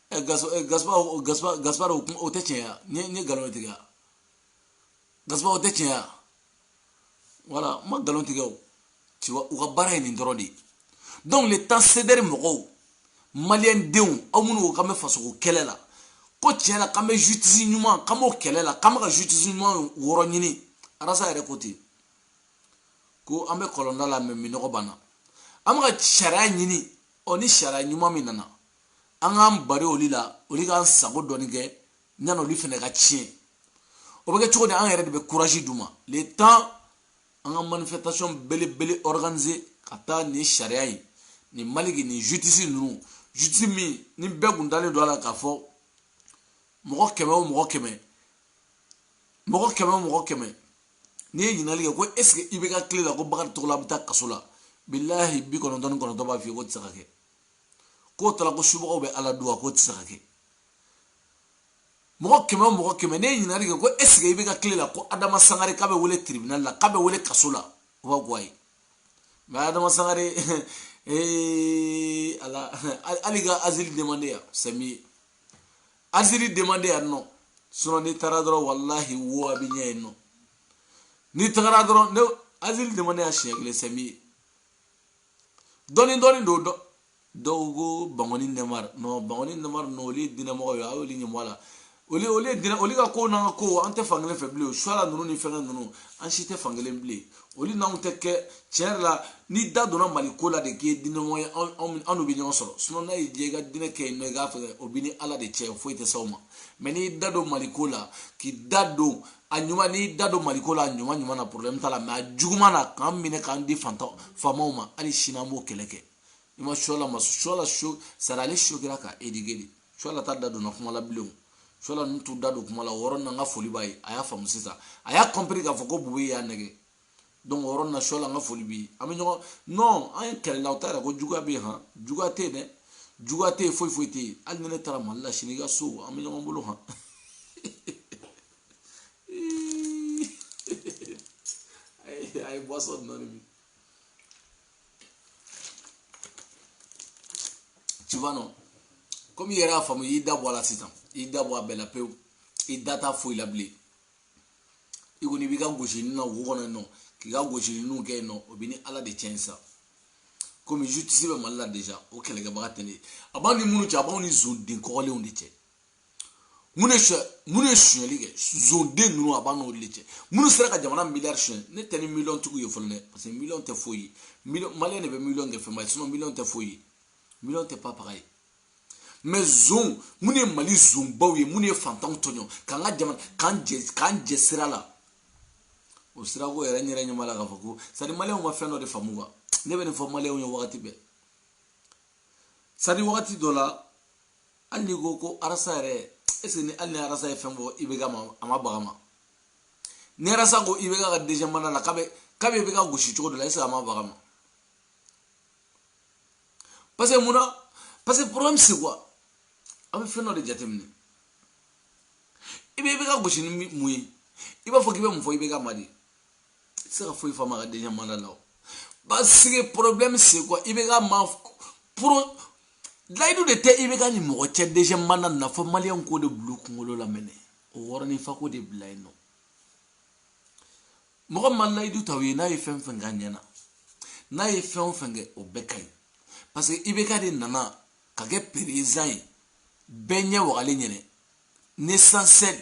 gaspa o tɛ tiɲɛ ye n ye nkalon tigɛ gaspa o tɛ tiɲɛ ye voilà n ma nkalon tigɛ o tuma u ka baara ye nin dɔrɔn de ye donc le temps sedɛri mɔgɔw maliyɛn denw aw minnu ko k'an bɛ fasoko kɛlɛ la ko tiɲɛ la k'an bɛ justice ɲuman k'an b'o kɛlɛ la k'an bɛ ka justice ɲuman yɔrɔ ɲini arasa yɛrɛ ko ten ko an bɛ kɔlɔnda la mais minnɔgɔ b'an na an bɛ ka sariya ɲini ɔ ni sariya ɲuman min nana an k'an bari olu la olu k'an sago dɔɔni kɛ yanni olu fana ka tiɲɛ o bɛ kɛ cogo di an yɛrɛ de bɛ kurazi d'u ma le temps an ka manifestation belebele organiser ka taa nin sariya in nin maliki nin justice ninnu justice min ni bɛɛ kun dalen don a la k'a fɔ mɔgɔ kɛmɛ o mɔgɔ kɛmɛ mɔgɔ kɛmɛ o mɔgɔ kɛmɛ n'i ye ɲininkali kɛ ko est ce que i bɛ hakili la ko bakari togola bɛ taa kaso la bilahi bi kɔnɔntɔn ni kɔnɔntɔn b'a f'i ye k'o tɛ se ka kɛ k'o tala ko subagaw bɛ ala duwa k'o tɛ se ka kɛ mɔgɔ kɛmɛ o mɔgɔ kɛmɛ n'i ye ɲininkali kɛ ko esike i bɛ hakili la ko adama sangare k'a bɛ wele tribinali la k'a bɛ wele kaso la o b'a gɔ a ye mɛ adama sangare ee ala hali ka azili demande yan c'est mieux azili demande yan nɔ sinɔn n'i taara dɔrɔn walahi wo a b'i ɲɛ yen nɔ n'i tagara dɔrɔn non azili demande yan siɲɛ kelen c'est mieux dɔɔni dɔɔni don dɔ dɔw ko bangoni nɛmar non bangoni nɛmar non olu ye dinɛmɔgɔ ye a y'olu ɲɛmɔgɔ a la olu olu ye dinɛ olu ka kow n'an ka kow an tɛ fankelen fɛ bilen suala ninnu ni fɛngɛ ninnu an si tɛ fankelen bilen olu n'anw tɛ kɛ tiɲɛ yɛrɛ la n'i da donna mali ko la de k'i ye dinɛmɔgɔ ye an n'u bɛ ɲɔgɔn sɔrɔ sinɔn n'a y'i diya i ka dinɛ kɛ yen nɔ i k'a fɛ o bɛ ni ala de cɛ foyi tɛ s'aw ma mais n'i da don mali ko la k'i da don a ɲuman n'i da don maliko la a ɲuman ɲuman na problème t'a la mais a juguman na k'an minɛ k'an di faantan faamaw ma hali sini an b'o kɛlɛ kɛ i ma suala ma suala so sari ale sokira ka éduquer de suala t'a da donna kuma la bilen o suala ninnu t'u da don kuma la o yɔrɔ nin na n ka foli b'a ye a y'a faamu sisan a y'a compris k'a fɔ ko bubu y'a nɛgɛn donc o yɔrɔ na sɔla n ka foli b'i an bɛ ɲɔgɔn non an ye kɛlɛ la o t'a yira ko juguya bɛ yen han juguya tɛ yen dɛ juguya tɛ yen foyi foyi tɛ yen hali ni ne taara mali la sini i ka so an bɛ ɲɔgɔn bolo han a ye boisson dɔɔni min tu vois non komi i yɛrɛ y'a faamu i y'i da bɔ a la sisan i y'i da bɔ a bɛɛ la pewu i da t'a foyi la bilen i kɔni i b'i ka gosili na wo kɔnɔ yen nɔ k'i ka gosilininw kɛ yen nɔ o b'i ni ala de cɛ in sa komi justice bɛ mali la deja o kɛlɛkɛbaga tɛ ne a b'an ni minnu cɛ a b'an ni zonden kɔgɔlenw de cɛ minnu ye so minnu ye sonyali kɛ zonden ninnu a b'an n'olu de cɛ minnu sera ka jamana miliyari sonya ne tɛ ni miliyɔn tigiw ye fɔlɔ dɛ parce que miliyɔn tɛ foyi ye miliyɔn maliyɛn de bɛ miliyɔn kɛ fɛnba ye sinɔn miliyɔn tɛ foyi ye miliyɔn tɛ papaga ye mais zon minnu ye mali zonbaw ye minnu ye fantanw tɔɲɔ k'an ka jamana k'an jɛ k'an jɛ sira la o sirako yɛrɛ n yɛrɛ ɲɛma la k'a fɔ ko sadi maliyɛnw ma fɛn dɔ de faamu wa ne bɛ nin fɔ maliyɛnw ye wagati bɛɛ sadi wagati dɔ la hali n'i ko ko arasa yɛrɛ est ce que ni hali ni arasa ye fɛn fɔ ibeka ma a ma bag'a ma ni arasa ko ibeka ka deuxième mandat la k'a bɛ k'a bɛ ibeka gosi cogo dɔ la est ce que a ma bag'a ma parce que mun na parce que problème c'est quoi aw bɛ fɛn dɔ de jateminɛ i bɛ ibeka gosi ni mun ye i b'a fɔ k'i bɛ mun fɔ ibeka ma de i tɛ se ka foyi f'a ma a ka deuxième mandat la parce que problème c'est quoi ibeka ma pro layidu de tɛ ibeka ni mɔgɔ cɛ deuxième mandat na fo maliyɛnw k'o de bila u kunkolo la maintenant o wɔrɔninfako de bila yen nɔ mɔgɔ ma layidu ta u ye n'a ye fɛn fɛn k'a ɲɛ na n'a ye fɛn o fɛn kɛ o bɛɛ ka ɲi parce que ibeka de nana ka kɛ peresidan ye bɛɛ ɲɛ wagalen ɲɛ na l'essentiel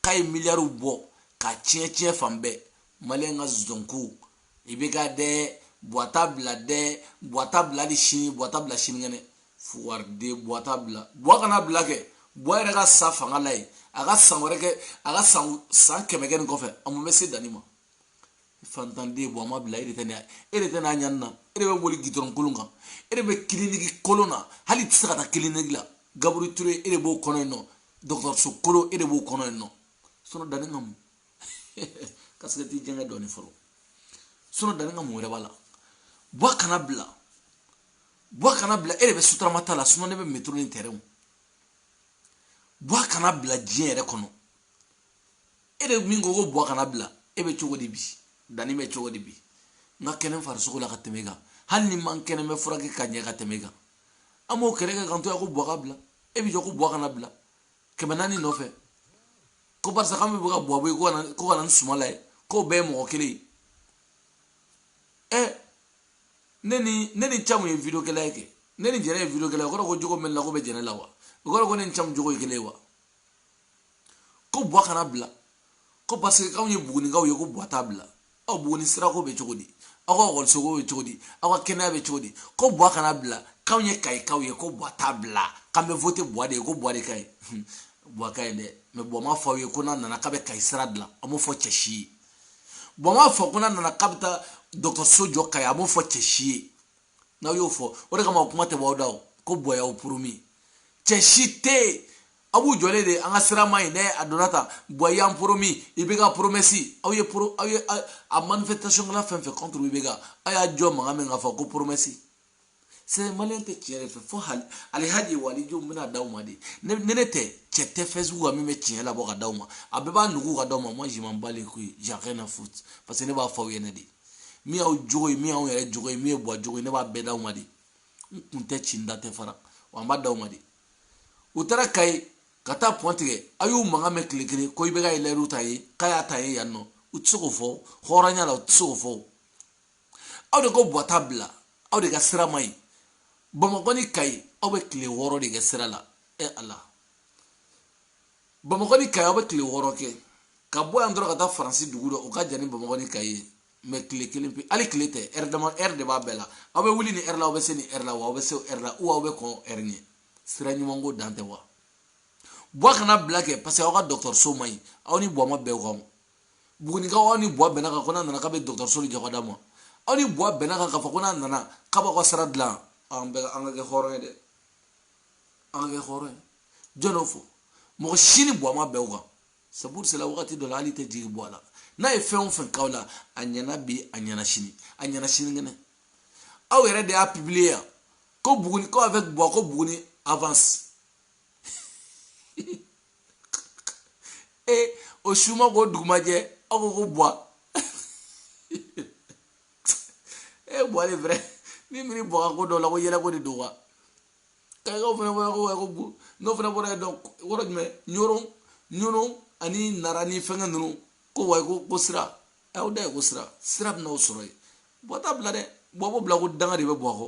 k'a ye miliyariw bɔ k'a tiɲɛ tiɲɛ fan bɛɛ maliyɛn ka zonko ibeka dɛ buwa t'a bila dɛ buwa t'a bila hali sini buwa t'a bila sinikɛnɛ fuwari de buwa t'a bila buwa kana bila kɛ buwa yɛrɛ ka sa fanga la yen a ka san wɛrɛ kɛ a ka san san kɛmɛ kɛ nin kɔfɛ a mun bɛ se dani ma fantanden ye buwa m'a bila e de tɛ n'a e de tɛ n'a ɲani na e de bɛ boli gidɔrɔn kolon kan e de bɛ kiliniki kolon na hali i tɛ se ka taa kiliniki la gabriel touré e de b'o kɔnɔ yen nɔ dɔgɔtɔrɔso kolon e de b'o kɔnɔ yen nɔ sinɔn dani ka mun kasikɛti jɛngɛ dɔɔni fɔlɔ sinɔn dani ka mun wɛrɛ b'a la buwa kana bila buwa kana bila e de bɛ suturama ta la sinon ne bɛ metro ni tɛrɛnw buwa kana bila diɲɛ yɛrɛ kɔnɔ e de min ko ko buwa kana bila e bɛ cogo di bi dɛ ne bɛ cogo di bi n ka kɛnɛ farisogo la ka tɛmɛ i kan hali ni n man kɛnɛ n bɛ furakɛ ka ɲɛ ka tɛmɛ i kan an b'o kɛlɛ kɛ k'an to yan ko buwa ka bila e bɛ jɔ ko buwa kana bila kɛmɛ naani nɔfɛ ko barisa k'an bɛ bɔ ka buwa bɔ yen ko ka na ni sumayila ye k'o bɛɛ ye mɔgɔ kelen ye ɛ ne ni ne ni camu ye video kɛla ye kɛ ne ni jɛnɛ ye video kɛla ye o kɔrɔ ko jogo min n na k'o bɛ jɛnɛ la wa o kɔrɔ ko ne ni camu jogo ye kelen ye wa ko buwa kana bila ko parce que k'anw ye bugunikaw ye ko buwa t'a bila aw buguni sirako bɛ cogo di aw ka ekɔlisoko bɛ cogo di aw ka kɛnɛya bɛ cogo di ko buwa kana bila k'anw ye kayikaw ye ko buwa t'a bila k'an bɛ voter buwa de ye ko buwa de ka ɲi buwa ka ɲi dɛ mɛ buwa ma fɔ aw ye ko n'a nana k'a bɛ kayi sira dilan a m'o fɔ cɛ si ye buwa m'a fɔ ko n'a nana k'a bɛ taa dɔgɔtɔrɔso jɔ kayi a m'o fɔ cɛ si ye n'aw y'o fɔ o de kama o kuma tɛ bɔ aw da o ko buwa y'aw poromi cɛ si tɛ yen aw b'u jɔlen de an ka sira ma ɲi dɛ a donna tan buwa y'an poromi IBK poromɛsi aw ye poro aw ye a manifestation kɛla fɛn fɛn contre IBK aw ye jɔn mankan mɛn k'a fɔ ko poromɛsi c'est maliyɛn tɛ tiɲɛ de fɛ fo hali alihaji walidenw bɛna d'aw ma de ne ne ne tɛ cɛ tɛ facebook kan min bɛ tiɲɛ labɔ ka d'aw ma a bɛɛ b'a nugu ka d'aw ma moi je m'en bats les couilles j'ai rien à foutre parce que ne b'a fɔ aw ɲɛna de min y'aw jogo ye min y'anw yɛrɛ jogo ye min ye buwa jogo ye ne b'a bɛɛ d'aw ma de n kun tɛ ci n da tɛ fara wa n b'a d'aw ma de u taara kayi ka taa pɔn tigɛ a y'u mankan mɛn tile kelen ko IBK ye layiru ta ye k'a y'a ta ye yan nɔ u tɛ se k'o fɔ hɔrɔnya la u tɛ se k'o fɔ aw de ko buwa t'a bila aw de ka sira ma ɲi bamakɔ ni kayi aw bɛ tile wɔɔrɔ de kɛ sira la e ala bamakɔ ni kayi aw bɛ tile wɔɔrɔ kɛ ka bɔ yan dɔrɔn ka taa faransi dugu dɔ o ka jan ni bamakɔ ni kayi ye mɛ tile kelen pe hali tile tɛ ɛri dama ɛri de b'a bɛɛ la aw bɛ wuli ni ɛri la aw bɛ se ni ɛri la wa aw bɛ se ɛri la ou aw bɛ kɔn ɛri ɲɛ sira ɲuman ko dan tɛ wa buwa kana bila kɛ parce que aw ka dɔgɔtɔrɔso man ɲi aw ni buwa ma bɛn o kan bugunikaw aw ni buwa bɛnna kan ko n'a nana k'a bɛ dɔgɔtɔrɔso de jɔ ka d'aw ma aw ni buwa bɛnna kan k'a fɔ ko n'a nana k'a b'aw ka sira dilan an bɛɛ an ka kɛ hɔrɔn ye dɛ an ka kɛ hɔrɔn ye jɔn y'o fɔ mɔgɔ si ni buwa ma bɛn o kan c'est pour cela wagati dɔ la hali tɛ jigin buwa la n'a ye fɛn o fɛn k'aw la a ɲɛna bi a ɲɛna sini a ɲɛna sinikɛnɛ aw yɛrɛ de y'a publier yan ko buguni ko avec buwa ko buguni avance e o suma k'o dugumajɛ aw ko ko buwa e buwa de vrai n'i miiri buwa ka ko dɔ la ko yɛlɛko de don wa kayikaw fana fana ko ko bu n'o fana bɔra dɔn yɔrɔ jumɛn ɲoron ɲoron ani nara ni fɛngɛ ninnu ko wa ko ko sira aw da ye ko sira sira bɛna aw sɔrɔ yen buwa t'a bila dɛ buwa b'o bila ko danga de bɛ buwa kɔ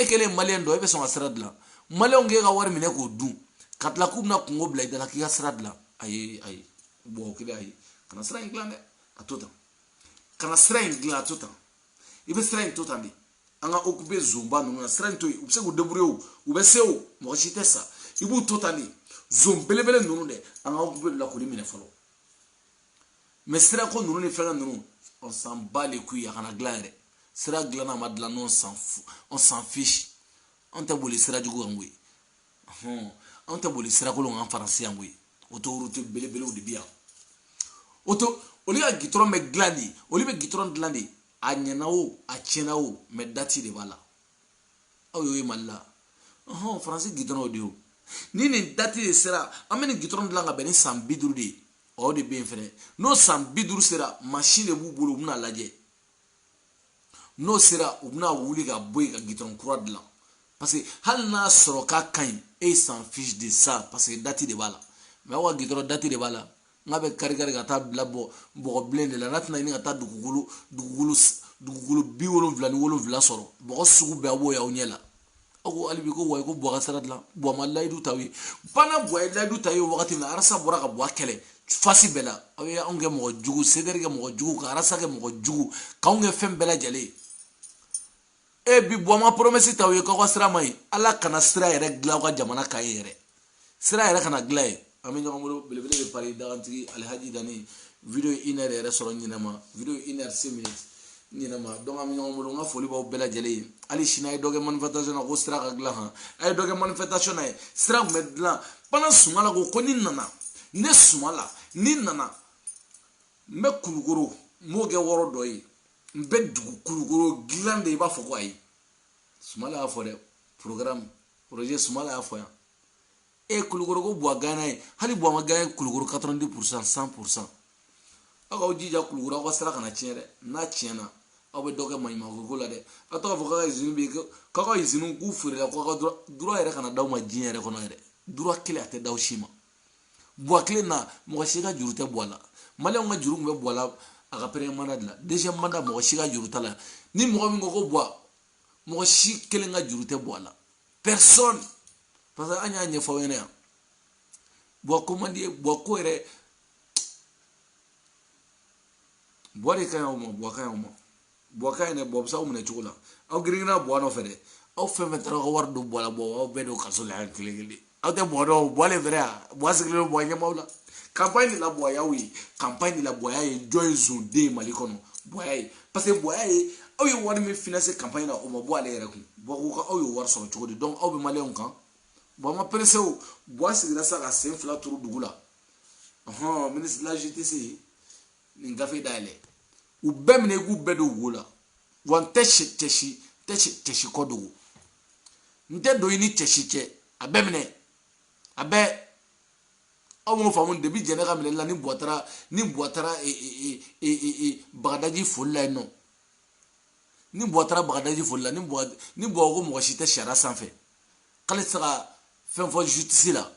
e kɛlen maliyɛn dɔ e bɛ sɔn ka sira dilan maliyɛnw k'e ka wari minɛ k'o dun ka tila k'u bɛna kungo bila i da la k'i ka sira dilan ayi ayi mɔgɔ kelen ayi kana sira in dilan dɛ a to tan kana sira in dilan a to tan i bɛ sira in to tan de an ka okupe zonba ninnu na sira in to yen u bɛ se k'u deburuye o u bɛ se o mɔgɔ si tɛ sa i b'u to tan de zon belebele ninnu dɛ an ka okupe la k'olu minɛ fɔlɔ mɛ sirako ninnu ni fɛnkɛ ninnu on s'en bat les couilles a kana dilan yɛrɛ sira dilanna a ma dilan o on s'en fiche an tɛ boli sira jugu kan koyi hɔn an tɛ boli sirakolon kan faransi yan koyi autoroute belebelew de bɛ yan auto olu ka gitɔrɔn bɛ dilan de olu bɛ gitɔrɔn dilan de a ɲɛna o a tiɲɛna o mɛ dati de b'a la aw y'o ye mali la hɔn faransi gitɔrɔnw de ye o ni nin dati de sera an bɛ nin gitɔrɔn dilan ka bɛn ni san bi duuru de ye o de bɛ yen fɛnɛ n'o san bi duuru sera mansin de b'u bolo u bɛna lajɛ n'o sera u bɛna wuli ka bɔ yen ka gitɔrɔn kura dilan parce que hali n'a sɔrɔ k'a ka ɲi eux ils s'en fichent de ça parce que dati de b'a la mɛ aw ka gitɔrɔn dati de b'a la nka a bɛ karikari ka taa bila bɔ bɔgɔ bilen de la n'a tɛna ɲini ka taa dugukolo dugukolo dugukolo bi wolonwula ni wolonwula sɔrɔ bɔgɔ sugu bɛɛ a b'o y'aw ɲɛ la aw ko hali bi ko wayi ko buwa ka sira dilan buwa ma layidu t'aw ye bana buwa ye layidu t'aw ye wagati min na arasa bɔra ka buwa kɛlɛ fasi bɛɛ la aw ye anw kɛ mɔgɔ jugu sedɛri kɛ mɔgɔ jugu ka arasa kɛ mɔgɔ jugu k'anw kɛ fɛn bɛɛ lajɛlen ye e bi buwa ma poromɛsi t'aw ye k'aw ka sira man ɲi ala kana sira yɛrɛ dilan aw ka jamana kan yen yɛrɛ sira yɛrɛ kana dilan yen an bɛ ɲɔgɔn bolo belebele bɛ pari dagantigi alihaji dani video une heure yɛrɛ sɔrɔ ɲinɛma video une heure six minutes ɲinɛma donc an bɛ ɲɔgɔn bolo n ka foli b'aw bɛɛ lajɛlen ye hali sini a ye dɔ kɛ manifestation na ko sira ka dilan han a ye dɔ kɛ manifestation na ye sira tun bɛ dilan bana sumala ko ko ni n nana ne sumala ni n nana n bɛ kulukoro n b'o kɛ yɔrɔ dɔ ye n bɛ dugu kulukoro dilan de i b'a fɔ ko ayi sumala y'a fɔ dɛ programme projet sumala y'a fɔ yan e kulukoro ko buwa gaɲena yen hali buwa ma gaɲe yen kulukoro 90 pourcent 100 pourcent aw k'aw jija kulukoro aw ka sira kana tiɲɛ dɛ n'a tiɲɛna aw bɛ dɔ kɛ maɲumanko la dɛ ka to k'a fɔ k'a ka izini bɛ yen k'aw ka iziniw k'u feerela k'aw ka droit droit yɛrɛ kana d'aw ma diɲɛ yɛrɛ kɔnɔ yɛrɛ droit kelen a tɛ d'aw si ma buwa kelen na mɔgɔ si ka juru tɛ buwa la maliyɛnw ka juru tun bɛ buwa la a ka premier mandat de la deuxième mandat mɔgɔ si ka juru t'a la ni mɔgɔ min ko ko buwa mɔgɔ si kelen ka juru tɛ buwa la personne parce que an y'a ɲɛfɔ aw ɲɛna yan buwa ko man di ye buwa ko yɛrɛ buwa de ka ɲi aw ma buwa ka ɲi aw ma buwa ka ɲi dɛ buwa bɛ se aw minɛ cogo la aw girinna buwa nɔfɛ dɛ aw fɛn fɛn taara aw ka wari don buwa la buwa aw bɛɛ don kaso la yan kelen kelen aw tɛ buwa dɔn o buwa le fɛrɛ yan buwa sigilen buwa ɲɛ b'aw la kanpaɲi de la buwa y'aw ye kanpaɲi de la buwa y'a ye jɔn ye zon de ye mali kɔnɔ buwa y'a ye parce que buwa y'a ye aw ye wari min finance kanpaɲi na o ma bɔ ale yɛrɛ kun buwa ko ka aw y'o wari sɔrɔ cogo di donc aw bɛ maliyɛnw kan bɔn an ka peresidan buwa sigira sa ka sen fila turu dugu la ɔhɔn ministre de la justice nin gafe dayɛlɛ u bɛɛ minɛ i k'u bɛɛ don wo la wa n tɛ cɛ si tɛ cɛ si ko dogo n tɛ don i ni cɛ si cɛ a bɛɛ minɛ a bɛɛ aw m'o faamu depi jɛnɛ ka minɛli la ni buwa taara ni buwa taara e, e, e, bagadaji foli la yen nɔ ni buwa taara bagadaji foli la ni buwa ni buwa ko mɔgɔ si tɛ sariya sanfɛ k'ale tɛ se ka fɛn fɔ jutisi la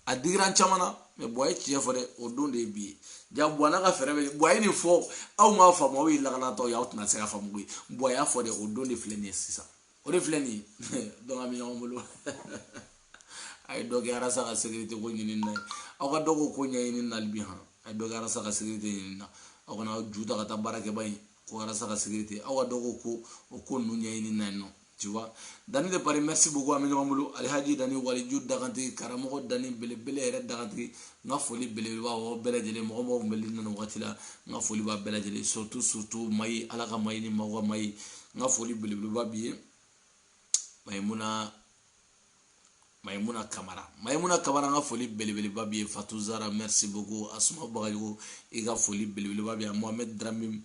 a digira an caman na mais buwa ye tiɲɛ fɔ dɛ o don de ye bi ye ja buwa n'a ka fɛɛrɛ bɛ buwa ye nin fɔ aw m'a faamu aw ye lakanatɔ ye aw tɛna se ka faamu koyi buwa y'a fɔ dɛ o don de filɛ nin ye sisan o de filɛ nin ye donc an bɛ ɲɔgɔn bolo a ye dɔ kɛ arasa ka sekirite ko ɲini na ye aw ka dɔ k'o ko ɲɛɲini na ali bi han a ye dɔ kɛ arasa ka sekirite ɲini na aw kana aw ju ta ka taa baarakɛba ye ko arasa ka sekirite aw ka dɔ k'o ko o ko ninnu ɲɛɲini na yen nɔ tu vois dani de paris merci beaucoup an bɛ ɲɔgɔn bolo alihaji dani waliju dagantigi karamɔgɔ dani belebele yɛrɛ dagantigi n ka foli belebeleba b'aw bɛɛ lajɛlen mɔgɔ mɔgɔ tun bɛ liɲi na wagati la n ka foli b'aw bɛɛ lajɛlen surtout surtout mayi ala ka mayi ni maaw ka mayi n ka foli belebeleba b'i ye mayimuna mayimuna kamara mayimuna kamara n ka foli belebeleba b'i ye fatu zara merci beaucoup asuma bagayogo i ka foli belebeleba bi yan mohamed dramɛ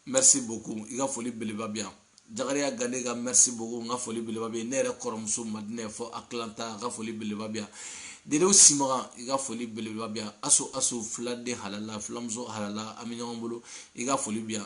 merci beaucoup i ka foli belebeleba bi yan jakariya gane ka merci beaucoup n ka foli belebeleba b'i ye ne yɛrɛ kɔrɔmuso madinɛ fo atlanta ka foli belebeleba bi yan dedew simaga i ka foli belebeleba bi yan aso aso filaden halala filamuso halala an bɛ ɲɔgɔn bolo i ka foli bi yan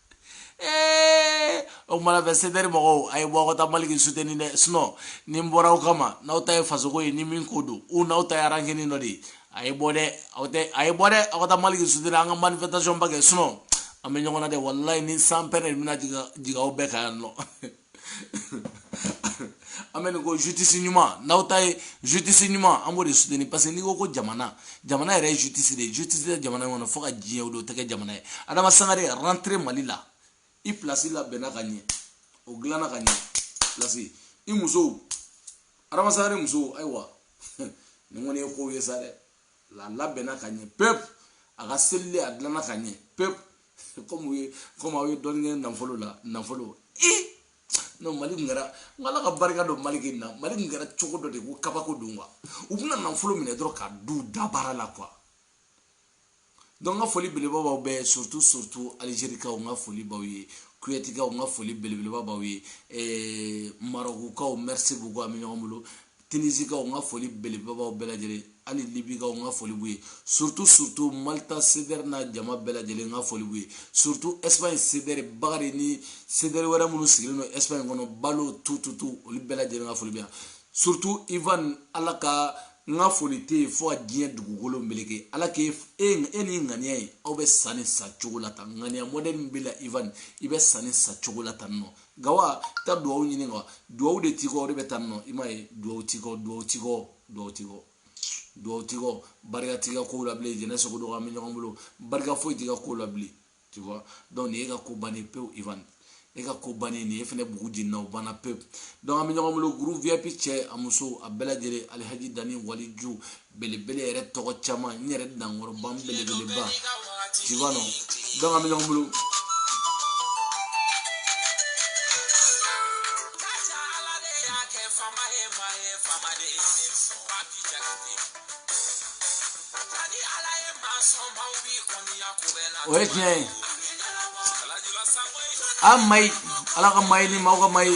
ee o kama n b'a fɛ sedeɛri mɔgɔw a ye bɔ aw ka taa maliki suteni dɛ sinon ni n bɔra aw kama n'aw ta ye fasoko ye ni min ko don u n'aw ta ye arankini dɔ de ye a ye bɔ dɛ aw tɛ a ye bɔ dɛ aw ka taa maliki suteni an ka manifestation ba kɛ sinon an bɛ ɲɔgɔn na dɛ walayi ni sanpɛrɛn bɛna jigin aw bɛɛ kan yan nɔ an bɛ nin kɔ jutisi ɲuman n'aw ta ye jutisi ɲuman an b'o de suteni parce que n'i ko ko jamana jamana yɛrɛ ye jutisi de ye jutisi tɛ jamana kɔnɔ fo ka diɲɛ o don tɛ kɛ jamana ye adama sangare rentrer mali la i pilasi labɛnna ka ɲɛ o dilanna ka ɲɛ pilasi i muso adama sangare muso ayiwa nin kɔni ye kow ye sa dɛ la labɛnna ka ɲɛ pepu a ka selili a dilanna ka ɲɛ pepu kɔmi ye kɔmi aw ye dɔɔni kɛ nafolo la nafolo sinon mali tun kɛra n ala ka barika don mali kɛ na mali tun kɛra cogo dɔ de ko kabako don wa u bɛna nafolo minɛ dɔrɔn k'a don u dabara la quoi donc n ka foli belebeleba b'aw bɛɛ surtout surtout alzerikaw n ka foli b'aw ye kowetikaw n ka foli belebeleba b'aw ye eh, marokukaw merci beaucoup an bɛ ɲɔgɔn bolo tinisikaw n ka foli belebelebaw bɛɛ lajɛlen hali libikaw n ka foli b'u ye surtout surtout malta sedɛri n'a jama bɛɛ lajɛlen n ka foli b'u ye surtout espagne sedɛri bagari ni sedɛri wɛrɛ minnu sigilen don espagne kɔnɔ balo tututu olu bɛɛ lajɛlen ka foli bɛ yan surtout ivan ala ka n ka foli tɛ yen fo ka diɲɛ dugukolo meleke ala k'e e, e ni ŋaniya ye aw bɛ sanni sa cogo la tan ŋaniya mɔdɛli min b'i la ivan i bɛ sanni sa cogo la tan nɔ gawa ta duwawu ɲini gawa duwawu de tikɔ o de bɛ tan nɔ i m'a ye duwawu tikɔ duwawu tikɔ duwawu tikɔ duwawu tikɔ barika t'i ka kow la bilen jɛnɛ sogo dɔgɔ an bɛ ɲɔgɔn bolo barika foyi t'i ka kow la bilen tu vois donc nin ye ka ko bannen pewu ivan e ka ko bannen nin ye fɛnɛ bugu jenina o banna pewu donc an bɛ ɲɔgɔn bolo groupe vip cɛ a muso a bɛɛ lajɛlen alihaji dani waliju belebele yɛrɛ tɔgɔ caman n yɛrɛ dankɔrɔba belebeleba tu vois non donc an bɛ ɲɔgɔn bolo o ye tiɲɛ ye a mayi ala ka mayi ni maaw ka mayi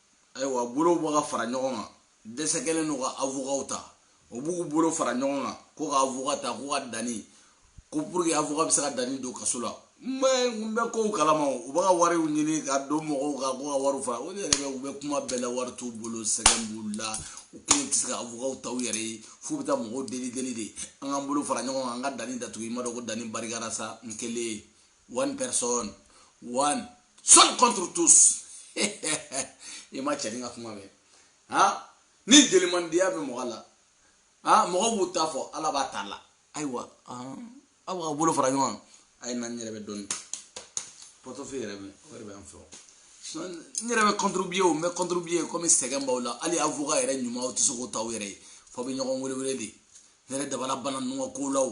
ayiwa bolow bɛ ka fara ɲɔgɔn kan dɛsɛ kɛlen don ka avokaw ta o b'u bolo fara ɲɔgɔn kan ko ka avoka ta ko ka dani ko pour que avoka bɛ se ka dani don kaso la n bɛ n bɛ kow kalama o u bɛ ka wariw ɲini ka don mɔgɔw kan ko ka wariw fara o de yɛrɛ bɛ u bɛ kuma bɛɛ la wari t'u bolo sɛgɛn b'u la u kelen tɛ se ka avokaw ta u yɛrɛ ye f'u bɛ taa mɔgɔw deli deli de an k'an bolo fara ɲɔgɔn kan an ka dani datugu i m'a dɔn ko dani barikara sa n kelen one person one seul contre tous i ma cɛnin ka kuma mɛn han ni jelimandiya bɛ mɔgɔ la han mɔgɔ b'u ta fɔ ala b'a ta la ayiwa aw ka bolo fara ɲɔgɔn kan a ye na n yɛrɛ bɛ dɔɔni pɔtɔfi yɛrɛ bɛ o yɛrɛ bɛ an fɛ o n yɛrɛ bɛ contribuer o n bɛ contribuer komi sɛgɛn b'aw la hali avocat yɛrɛ ɲuman aw tɛ se k'o ta aw yɛrɛ ye f'aw bɛ ɲɔgɔn wele wele de ne yɛrɛ dabali banna ninnu ka kow la o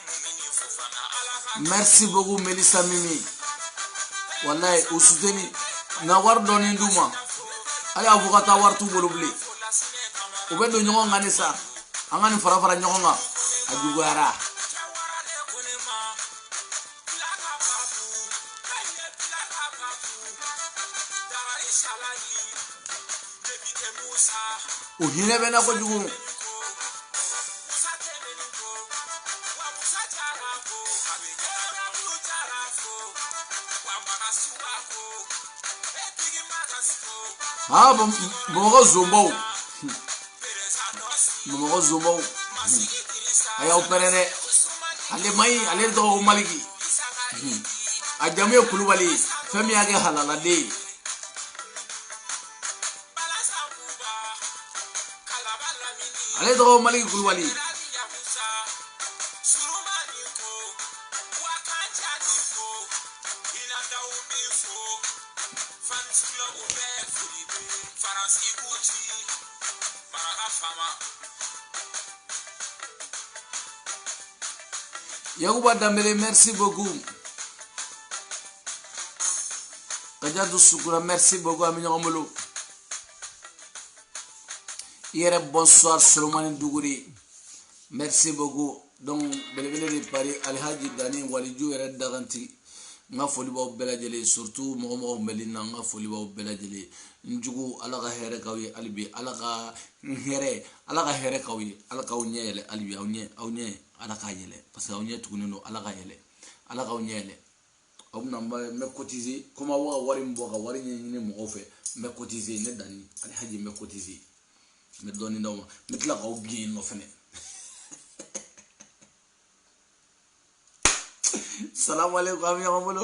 merci beaucoup melisa mimi walayi u soutenir na wari dɔɔni d'u ma hali avoka ta wari t'u bolo bilen u bɛ don ɲɔgɔn kan de sa an ka nin fara fara ɲɔgɔn kan a juguyara u hinɛ bɛ n na kojugu aa bamakɔ zonbaw bamakɔ zonbaw a y'aw pɛrɛn dɛ ale man ɲi ale tɔgɔ ko maliki a jamu ye kulubali ye fɛn min y'a kɛ halaladen ye ale tɔgɔ maliki kulubali yakuba danbele merci beaucoup kajatu sukuna merci beaucoup an bɛ ɲɔgɔn bolo i yɛrɛ bonsoir solomani duguri merci beaucoup donc belebele de paris alihaji dani waliju yɛrɛ dagantigi n ka foli b'aw bɛɛ lajɛlen surtout mɔgɔ mɔgɔ tun bɛ ligne na n ka foli b'aw bɛɛ lajɛlen n jugu ala ka hɛrɛ k'aw ye hali bi ala ka n hɛrɛ ala ka hɛrɛ k'aw ye ala k'aw ɲɛ yɛlɛ hali bi aw ɲɛ aw ɲɛ ala k'a yɛlɛ parce que aw ɲɛ tugunnen don ala k'a yɛlɛ ala k'aw ɲɛ yɛlɛ aw bɛ na n bɛ kotize komi aw ka wari min bɔ ka wari ɲɛɲini mɔgɔw fɛ n bɛ kotize ne dani alihaji n bɛ kotize n bɛ dɔɔnin d'aw ma n bɛ tila k'aw gɛn yen nɔ fɛnɛ salamu aleykum an bɛ ɲɔgɔn bolo